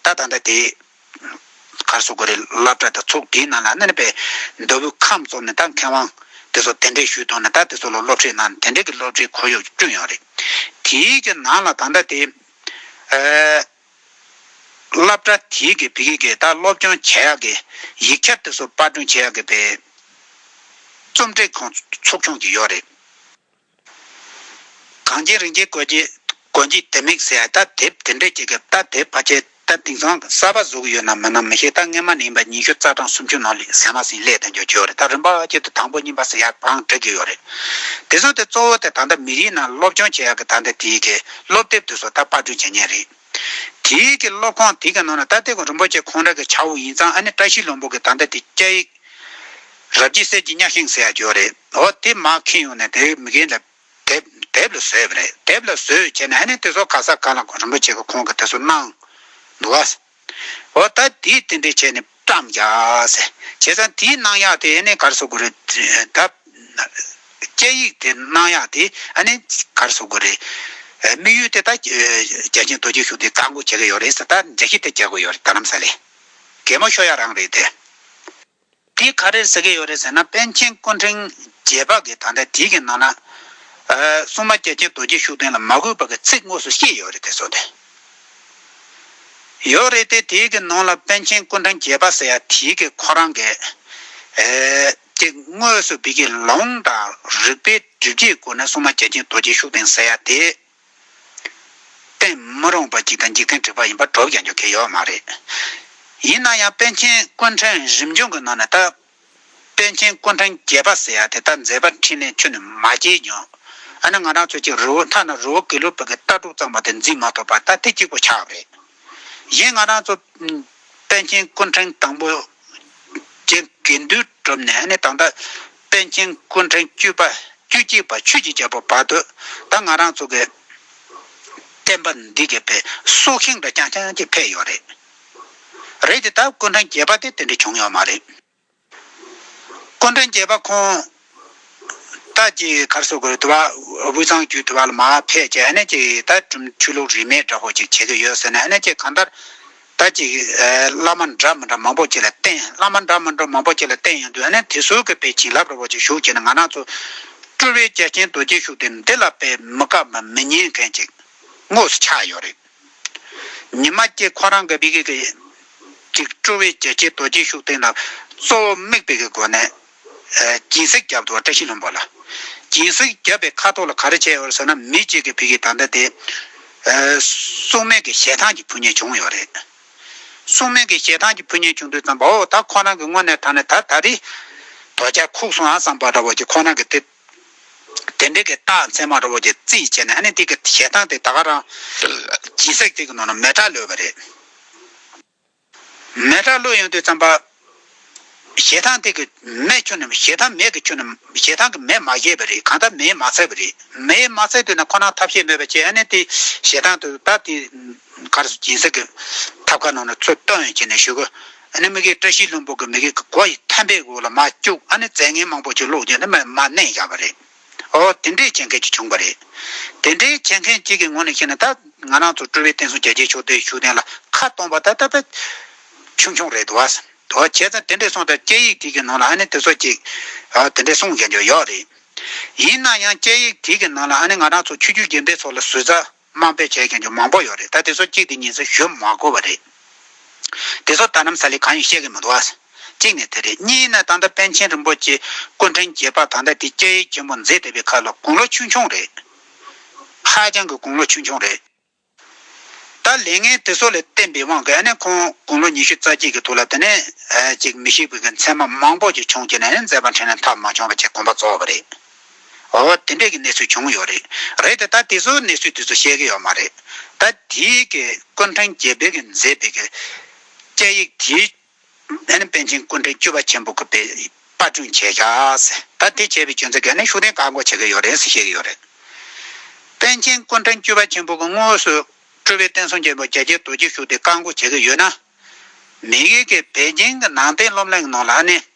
[SPEAKER 1] ད་ད་ལྟ་དེའི་ཁར་སོ་གོ་རི་བླ་བྲ་དང་ཚོགས་སྡེའི་ནང་ལ་གནས་པའི་མདོ་དབུས་ཁམས་བཙོག་ནས་ད་མཁས་དབང་དེ་ཚོར་དེ་འདྲའི་ཞུས་གཏོང་ནས་ད་དེ་ཚོ་ལ་སློབ་ཁྲིད་གནང་ནས་དེ་འདྲའི་གི་སློབ་ཁྲིད་ཁོར་ཡུག་ཅིག་བསྐྲུན་ཡོད་རེད། དེའི་གི་ནང་ལ་ད་ལྟ་དེའི། སློབ་གྲྭ་དེའི་གི་བི་ཀི་གི་དང་སློབ་སྦྱོང་བྱེད་ཡག་གི་ཡིག་ཆ་དེ་ཚོ་དཔར་སྐྲུན་བྱེད་ཡག་གི་བེད་རྩོམ་སྒྲིག་ཁང་ཚོགས་ཆུང་གི་ཡོད་རེད། གངས་ཅན་རིན་ཆེན་རྒོད་རྗེས་རྒོད་རྗེས་དེ་མིག་ཟས་ད་དེབ་དེ་འདྲས་བྱེད་གི་ད་དེབ་ཕ་ཆེ་ད་དིང་སང་གསར་པ་བཟོ་གི་ཡོད་ནམ་མིན་ནམ་མི་ཤེས་ད་སྔས་མ་ནས་ཡིན་པ་ཉི་ཤུ་རྩ་གྲངས་སུམ་ཅུ་ནང་ལས་ཟས་མ་ཟིན་སླད་དེ་འཇོག་གི་ཡོད་རེད་ད་རིམ་པ་ཆེད་དུ་དང་པོ་གཉིས་པ་ཟས་ཡག་པའང་སྒྲིག་གི་ཡོད་རེད། དེ་ཚོ་དེ་གཙོ་བོ་དེ་ད་ལྟ་མི་རིགས་ནང་སློབ་སྦྱོང་བྱེད་ཡག་གི་ད་ལྟ་དེའི་གི། སློབ་དེབ་དུ་སོ་ཐར་དཔར་སྐྲུན་བྱེད་ཉེན་རེད། དེ་ཡིག་གི་སློབ་ཁང་དེ་ག་ནང་ན་རྟ་སྟེ་གོ་རིན་པོ་ཆེ་ཁོང་ར་གི་བྱ་བོ་ཡིན་ཙང་ཨ་ནེ་བཀྲ་ཤིས་ལོང་པོ་གི་ད་ལྟ་དེ་སྐྱ་ཡིག། རབ་རྒྱས་གསེར་གྱི་གཉགས་ཤིང་ཟེར་ཡ་གྱོ་རེད་འོ་དེ་མ་ཁེན་ཡོང་ནས་དེ་མི་གེ་ལ། དེབ་དེབ་ལ་ཟོས་པ་རེད་དེབ་ལ་ཟོས་བྱས་ནས་ཨ་ནེ་དེ་སོ་ག་ས་ག་ལ་གོ་རིན་པོ་ཆེ་གི་ཁོང་གི་དེ་སོ་གནང། འདུག་ག། ཨོ་ད་དེས་དེ་འདྲས་བྱས་ནས་བཀྲམ་རྒྱགས། བྱས་ཙང་དེའི་སྣང་ཡག་དེ་ནི་གར་སོ་དགོས་རེད། ད་སྐད་ཡིག་དེ་སྣང་ཡག་དེ་ནི་གར་སོ་དགོས་རེད། དམིགས་ཡུལ་དེ་ད་བརྒྱ་བྱིན་རྡོ་རྗེ་ཤུགས་དེ་བཀག་འགོག་བྱེད་ཀྱི་ཡོད་རེད། ད་འཇགས་ཤིག་དེ་རྒྱག་དགོས་ཡོད་རེད་ད་ནམ་ས་ལེ། གད་མོ་ཤོ་ཡག་རང་རེད་དེ། དེ་ག་རེ་ཟེར་གྱི་ཡོད་རེད་ཟེར་ན་པཎ་ཆེན་སྐུ་ཕྲེང་རྒྱལ་འཕགས་ཀྱི་དང་དེ་གི་ནང་ན། སྲུང་མ་རྒྱལ་ཆེན་རྡོ་རྗེ་ཤུགས་ལྡན་ལ་མ་གུས་པ་གི་ཚིག་དངོས་སུ་ཤེས་ཡོད་རེད་དེ་སོགས་དེ། ཡོད་རེད་དེ་དེ་གི་ནང་ལ་པཎ་ཆེན་སྐུ་ཕྲེང་རྒྱལ་འཕགས་ཟེར་ཡ་དེ་གི་ཁོ་རང་གི། དེ་དངོས་སུ་བི་གི་ལོང་དང་རིག་པའི་སྒྲིབ་བྱེད་སྐོར་ནས་སྲུང་མ་རྒྱལ་ཆེན་རྡོ་རྗེ་ཤུགས་ལྡན་ཟེར་ཡ་དེ། བསྟན་མི་རུང་བ་ཅིག་དང་འཇིག་རྟེན་དྲེགས་པ་ཡིན་པ་གྲོགས་ཀྱང་རྒྱུ་གལ་ཡོད་མ་རེད། ཡིན་ན་ཡང་པཎ་ཆེན་ཀུན་ཕྲན་རིམ་བྱོན་གྱི་ནང་ནས་ད། པན་ཆེན་ཀུན་ཕྲན་བརྒྱད་པ་ཟེར་ཡ་དེ་ད་མཛད་པ་འཕྲིན་ལས་ཆུ་ནས་མ་སྐྱེལ་ཀྱང། ཨ་ནི་ང་རང་ཚོས་ཀྱི་རི་བོ་མཐའ་ན་རི་བོ་གེ་ལུ་བོད་ཀྱི་ལྟ་གྲུབ་གཙང་མ་དེ་འཛིན་མ་ཐུབ་པར་ད་དེ་གཅིག་པོ་ཆགས་པ་རེད། གཞན་ང་རང་ཚོ། པན་ཆེན་ཀུན་ཕྲན་དང་པོ། རྒྱའི་འགལ་འདུའི་གྲུབ་ནས་ཨ་ནི་ད་ལྟ། པཎ་ཆེན་སྐུ་འཕྲེང་བཅུ་པ་བཅུ་གཅིག་པ་ཆོས་ཀྱི་རྒྱལ་པོ་བར་དོ་ད་ང་རང་ཚོ་གི་བསྟན་པ་འདི་གི་པའི་སྲོག་ཤིང་འདྲ་རྐྱང་རྐྱང་གཅིག་འཕེལ་ཡོད་རེད། རེད་དེ་ད་སྐུ་འཕྲེང་བརྒྱད་པ་དེ་དེ་འདྲ་བྱུང་ཡོད་མ་རེད། སྐུ་འཕྲེང་བརྒྱད་པ་ཁོང་ད་ཀྱི་གར་སོ་གོལ་དུ་བ་དབུས་གཙང་བརྒྱུད་དུ་བ་ལ་མ་ཕེད་ཀྱི་ཨ་ནེ་ཀྱི་ད་གྲུམ་ཆུ་ལུག་རིས་མེད་འདྲ་བོ་ཅིག་བྱེད་ཀྱི་ཡོད་ཟེར་ནས་ཨ་ནེ་ཀྱི་གང་ལྟར། ད་ཅིག། བླ་མ་འདྲ་མི་འདྲ་མང་པོ་བཅས་ལ་བསྟེན། བླ་མ་འདྲ་མི་འདྲ་མང་པོ་བཅས་ལ་བསྟེན་ཡང་དུས་ནི་དེ་སྲོལ་གྱི་དཔེ་བྱིན་རླབས་རི་བོ་ཆེ་བཞུགས་བྱས་ནས་ང་ནག་ཚོ། སྤྲུལ་བའི་རྒྱལ་ཆེན་རྡོ་རྗེ་ཤུགས་དེ་འདི་ལ་དཔེ་མི་དཀའ་བ་མི་ཉན་མཁན་ཅིག་དངོས་སུ་ཆགས་ཡོད་རེད། ཉི་མ་སྐྱིད་ཁོ་རང་གི་བི་གིས་ཀྱིས་ཅིག་སྤྲུལ་བའི་རྒྱལ་ཆེན་རྡོ་རྗེ་ཤུགས་དེ་ལ་གཙོ་བོ་དམིགས་དཔེ་གི་སྒོ་ནས་སྦྱིན་སྲེག་བརྒྱབ་འདུག་བ་བཀྲ་ཤིས་ལྷུན་པོ་ལ། སྦྱིན་སྲེག་བརྒྱབ་པའི་ཁ་དོག་ལ་ག་རེ་བྱས་ཡོད་རེད་ཟེར་ན་མི་གཅིག་གིས་བོད་ཀྱི་ད་ལྟ་དེ། སྲུང་མས་ཀྱི་ཞལ་ཐང་གི་ཕུ་ཉེ་བྱུང་ཡོད་རེད། སྲུང་མས་ཀྱི་ཞལ་ཐང་གི་ཕུ་ཉེ་བྱུང་དུས་བསམ་པ་འོ་ད་ཁོ་རང་གི་སྔོན་ནས་ད་ནི་ད་ད་རེ། དོ་ཅག་ཁུག་སོང་ཨ་བསམ་པ་འདྲ་བོ་ཀྱི་ཁོ་རང་གི་དེ། དེ་འདྲའི་གི་རྟགས་མཚན་མ་འདྲ་བོ་ཀྱི་རྩིས་བྱས་ནས་ཨ་ནི་དེ་གི་ཞལ་ཐང་དེ་ད་ག་རང། སྦྱིན་སྲེག་དེ་གི་ནང་ན་མེ་དྲག་ལོས་པ་རེད། མེ་དྲག་བློ་ཡོངས་དུས་བརྩམས་པ། ཞེ་སྡང་སྟེང་གི་མེས་ཁྱོད་རྣམས་ཞེ་སྡང་མེད་ཀྱི་ཁྱོད་རྣམས་ཞེ་སྡང་གི་མེས་མ་བཞེས་པ་རེད་གང་ལྟར་མེས་མ་འཚལ་བ་རེད་མེས་མ་འཚལ་དུས་ན་ཁོ་ནའང་ཐབས་ཤེས་མེད་པ་ཅི་ཨ་ནེ་དེ་ཞེ་སྡང་དུ་ད་དེ་གར་སོང་སྦྱིན་སྲེག་གི་ཐབས་ཁ་ནང་ན་ཚུར་ལྟོ་ཡོན་བྱས་ནས་བཞུགས་གོ་ཨ་ནེ་མི་གེ་བཀྲ་ཤིས་ལྷུན་པོ་གི་མི་གེ་གི་སྒོ་ཡི་ཐམ་པའི་དབུ་ལ་མ་བཅུག་ཨ་ནེ་རྫས་ངན་མང་པོ་ཅིག་བླུགས་རྗེས་ན་མ་གནས་བཞག་པ་རེད། ཨོ། དེ་འདྲས་བྱེད་མཁན་གཅིག་བྱུང་བ་རེད། དེ་འདྲས་བྱེད་མཁན་གཅིག་གི་ངོ་ནས་བཤད་ན་ད་ང་རང་ཚོ་སྤྲུལ་བའི་བསྟན་སྲུང་རྒྱལ་གཅེས་ཕྱོགས་བསྡུས་ཞུ་གཏན་ལ་ཁ་གཏོང་བ་ད་ལྟ་ད་ཆུང་ཆུང་རེད་དོ། དོ། བྱས་ཙང་དེ་འདྲས་སོང་དར་དཔྱད་ཡིག་དེ་གི་ནང་ལ་ཨ་ནི་དེ་ཚོ་ཅིག། ཨོ། དེ་འདྲས་གསུངས་ཀྱང་ཡོད་རེད། ཡིན་ན་ཡང་དཔྱད་ཡིག་དེ་གི་ནང་ལ་ཨ་ནི་ང་རང་ཚོ་ཆོས་རྒྱུད་རྒན་པའི་ཚོགས་ལ་ཟུར་ཟ། དམངས་ཕལ་ཆེར་ཀྱང་ཅུང་མང་པོ་ཡོད་རེད་ད་དེ་ཚོ་གཅིག་དེ་གཉིས་སུ་ཞུ་མ་དགོས་པ་རེད། དེ་ཚོ་ལྟ་ནམ་ས་ལེ་གང་ཡིན་ཤེས་ཀྱི་མི་འདུག་ཨ། གཅིག་ནས་དེ་རེད་གཉིས་ནས་ད་ལྟ་པན་ཆེན་རིན་པོ་ཆེ་སྐུ་འཕྲེང་རྒྱས་པ་ད་ལྟ་དེ་སྐྱེ་ཡུལ་ཆེན་པོ་མཛེས་སྡེ་པའི་ཁ་ལ་དགུང་ལོ་ཆུང་ཆུང་རེད། ཧ་ཅང་གི་དགུང་ལོ་ཆུང་ཆུང་རེད། ད་ལས་ངན་དེ་ཚོ་ལས་བསྟན་པའི་དབང་གིས་ཨ་ནི་ཁོང་དགུང་ལོ་ཉི་ཤུ་རྩ་གཅིག་གི་ཐུགས་ལ་དེ་ནས་ཅིག་མི་ཤེས་པའི་མཚན་མ་མང་པོ་ཞིག་བྱུང་རྗེས་ནས་ནི་མཛད་པ་འཕྲིན་ལས་མཐའ་མ་བྱུང་བ་ཅིག་དགོངས་པ་རྫོགས་པ་རེད། འོ་དེ་འདྲས་ཀྱི་གནས་ཚུལ་བྱུང་ཡོད་རེད། རེད་དེ་ད་དེ་ཚོའི་གནས་ཚུལ་དེ་ཚོ་བཤད་ཀྱི་ཡོད་མ་རེད། ད་དེའི་གི་ཀུན་ཕྲན་རྒྱལ་བོད་ཀྱི་མཛད་པའི་གི་སྐད་ཡིག་དེའི་ཨེ་ནི་པན་ཆེན་ཀུན་ཕྲན་བཅུ་པ་ཆེན་པོ་གི་པའི་པར་སྐྲུན་བྱས་ཤག་ཟེར་ད་དེ་བྱས་པའི་སྐྱོན་ཚེ་གས་ནི་ཤུགས་ལྡན་བཀག་འགོག་བྱེད་ཀྱི་ཡོད་རེད་ཟེར་བཤད་ཀྱི་ཡོད་རེད། པན་ཆེན་ཀུན་ཕྲན་བཅུ་པ་ཆེན་པོ་གི་དངོས་སུ་སྤྲུལ་པའི་བསྟན་སྲུང་ཆེན་པོ་རྒྱ་རྒྱལ་རྡོ་རྗེ་ཤུགས་ལྡན་བཀག་འགོག་བྱེད་ཀྱི་ཡོད་ན། མི་གིས་གི་བལ་གྱིང་གི་ནང་བསྟན་སློབ་གླིང་གི་ནང་ལ་ཨ་ནི་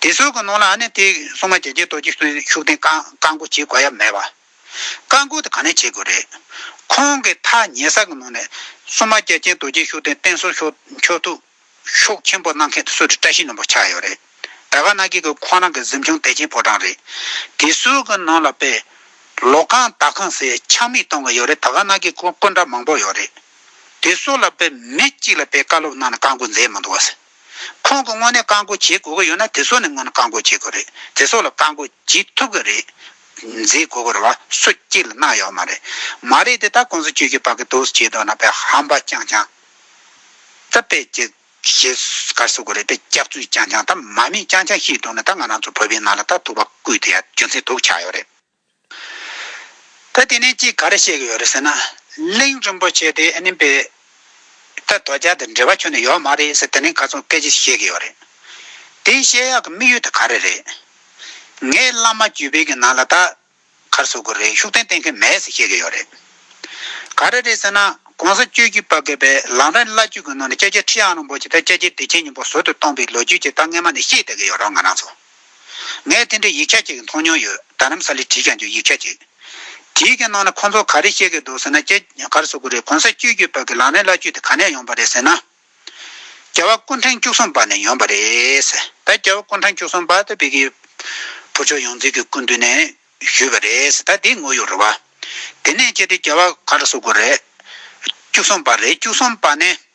[SPEAKER 1] དེ་གསོལ་གྱི་ནང་ལ་ཨ་ནེ་ཏེའི་སྲུང་མ་རྒྱལ་རྒྱལ་རྡོ་རྗེ་སོགས་ཤུགས་ལྡན་བཀའ་བསྒོ་བྱེད་དགོས་ཡ་མེད་པ། བཀའ་བསྒོ་དེ་ག་ནས་བྱེད་དགོས་རེད། ཁོང་གི་ཐ་སྙད་ས་གི་ནང་ནས་སྲུང་མ་རྒྱལ་རྒྱལ་རྡོ་རྗེ་ཤུགས་ལྡན་བསྟེན་གསོལ་མཆོག་ཐུགས་ཤོག་ཆེན་པོ་གནང་མཁན་དུ་སུ་རེད་བཀྲ་ཤིས་ནོར་བུ་ཆགས་ཡོད་རེད་ད་ག་ནག་གིས་གི་ཁོང་རང་གི་གཟིམ་ཆུང་དད་ཅན་ཕོ་བྲང་རེད་དེ་གསོལ་གི་ནང་ལ་དཔེ་ལོག་ཁང་བདག་ཁང་ཟེར་ཆགས་མེད་གཏོང་གི་ཡོད་རེད་ད་ག་ནག་གིས་སྐུ་འདྲ་མང་པོ་ཡོད་རེད་དེ་གསོལ་ལ་དཔེ་མི་གཅིག་ལ་དཔེ་བཀའ་སློབ་གནང་ནས་བཀའ་བསྒོ་མཛད་མི་འདུག་བ། ཁོང་གི་སྔོན་ནས་བཀག་འགོག་བྱེད་དགོས་ཀྱི་ཡོད་ན་དེ་ཚོ་ནི་སྔོན་ནས་བཀག་འགོག་བྱེད་དགོས་རེད་དེ་ཚོ་ལ་བཀག་འགོག་བྱེད་ཐུབ་ཀྱི་རེད། མཛད་དགོས་ཀྱི་རེད་བ་སུ་གཅིག་ལ་གནང་ཡོད་མ་རེད། མ་རེད་དེ་དག་ཁོང་ཚོ་བཅོས་ཀྱི་བག་གི་དོགས་སུ་བྱས་འདུག་ན་བས་ཧམ་པ་རྐྱང་རྐྱང་ད་བས་ཀྱི་ཞེས་ག་གསུ་གི་རེད་བས་སྐྱག་རྫུན་རྐྱང་རྐྱང་ད་མ་མེད་རྐྱང་རྐྱང་ཤིག་འདུག་ན་ད་ང་རང་ཚོ་བོད་པའི་ནང་ལ་ད་ཐུག་པ་བརྐུས་དེ་ཡ་རྒྱུ་མཚན་དུག་ཆགས་ཡོད་རེད། ད་དེ་ནས་ཅིག་ག་རེ་བཤད་གི་ཡོད་རེད་ཟེར་ན། གླིང་རིན་པོ་ཆེ་དེ་ཨ་ནི་པའི་ད་དོ་ཅལ་དང་འབྲེལ་བ་ཁྱོན་ནས་ཡོད་མ་རེད་ཟེར་དེ་ནས་ག་ཚོད་སྐད་ཅིག་བཤད་གི་ཡོད་རེད། དེའི་བཤད་ཡག་གི་དམིགས་ཡུལ་དེ་ག་རེ་རེད། ངས་བླ་མ་བརྒྱུད་སྤེལ་གི་ནང་ལ་ད་གར་བཟོ་གི་རེད་ཤུགས་ལྡན་བསྟེན་མཁན་མེད་ཟེར་བཤད་གི་ཡོད་རེད། ག་རེ་རེད་ཟེར་ན་གོང་ས་སྤྱོད་རྒྱུད་པ་གི་པའི་ལམ་རིམ་བླ་བརྒྱུད་གི་ནང་ནས་ཀྱ་ཀྱ་ཁྲི་ཨ་རིན་པོ་ཆེ་ད་ཀྱ་ཀྱའི་བདེ་ཆེན་སྙིང་པོ་ཟུར་དུ་གཏོང་པའི་ལོ་རྒྱུས་ཅིག་ད་སྔས་མ་ནས་ཤེས་བསྡད་གི་ཡོད་རོགས་ང་རང་ཚོ། ངས་དེ་འདྲའི་ཡིག་ཆ་གཅིག་མཐོང་མྱོང་ཡོད་རྡ་རམ་ས་ལས་བྲིས་ཀྱང་ཆོག་ཡིག་ཆ་གཅིག་དེའི་གི་ནང་ན་ཁོ་ཚོ་ག་རེ་བཤད་གི་འདུག་ཟེར་ན་སྐྱེ་གར་སོག་གི་རེད་གོང་ས་བཅུས་བརྒྱུད་བར་གི་ལག་ལེན་བླ་བཅུས་དེ་ག་ནས་ཡོང་པ་རེད་ཟེར་ན། རྒྱལ་བ་སྐུ་འཕྲེང་བཅུ་གསུམ་པ་ནས་ཡོང་པ་རེད། ད་རྒྱལ་བ་སྐུ་འཕྲང་བཅུ་གསུམ་པ་ད་བི་ཀི་བུ་ཆོས་ཡོངས་འཛིན་གི་སྐུ་མདུན་ནས་ཞུས་པ་རེད་ད་དེ་ངོ་ཡོད་རེད་བ། དེ་ནས་ཁྱེད་དེ་རྒྱལ་བ་གར་སོག་གི་རེད། བཅུ་གསུམ་པ་རེད་བཅུ་གསུམ་པ་ནས་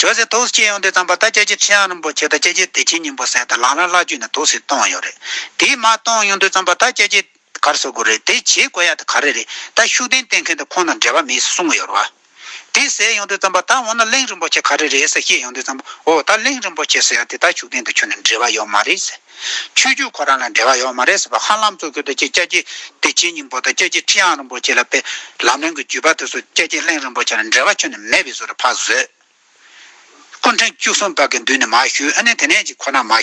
[SPEAKER 1] ཁྱོད་ཚོས་ཐུགས་སུ་སྐྱེས་ཡོང་དུས་ཙམ་པ་ད་ཁྱེད་ཀྱི་ཁྱི་ཡང་རིན་པོ་ཆེ་དང་ཁྱེད་ཀྱི་དེ་ཁྱི་སྙིང་པོ་སྲས་དང་ལང་རང་བླ་བརྒྱུད་ནས་ཐུགས་སུ་གཏོང་ཡོང་རེད། དེས་མ་གཏོང་ཡོང་དུས་ཙམ་པ་ད་ཁྱེད་ཀྱི། གར་བཟོ་དགོས་རེད་དེ་བྱེད་དགོས་ཡ་དེ་ག་རེ་རེད་ད་ཤུགས་ལྡན་བསྟེན་མཁན་དེ་ཁོང་དང་འབྲེལ་བ་མེད་ཟེར་གསུངས་ཡོར་བ། དེ་ཟེར་ཡོང་དུས་ཙམ་པ་ད་འོ་ན་གླིང་རིན་པོ་ཆེ་ག་རེ་རེད་ཟེར་བཤད་ཡོང་དུས་ཙམ་པོ་འོ་ད་གླིང་རིན་པོ་ཆེ་ཟེར་ཡ་དེ་ད་ཤུགས་ལྡན་དེ་ཁྱོད་ནས་འབྲེལ་བ་ཡོད་མ་རེད་ཟེར། ཆོས་བརྒྱུད་ཁོ་རང་ལ་འབྲེལ་བ་ཡོད་མ་རེད་ཟེར་བ་ཧ་ལམ་གཙོ་གྱུར་དུ་ཁྱེད་སྐྱབས་རྗེ་བདེ་ཆེན་སྙིང་པོ་དང་སྐྱབས་རྗེ་ཁྲི་ཨང་རིན་པོ་ཆེ་ལ་དཔེ། ལམ་རིང་གི་བརྒྱུད་པ་དེ་ཚོ་སྐྱབས་རྗེ་གླིང་རིན་པོ་ཆེ་ལ་འབྲེལ་བ་ཁྱོན་ནས་མེད་པའི་བཟོ་རུ་ཕར་བཟོས། སྐུ་ཕྲེང་བཅུ་གསུམ་པ་གི་མདུན་ནས་མ་ཞུས་ཨ་ནི་དེ་ནས་ཅིག་ཁོ་ན་མ།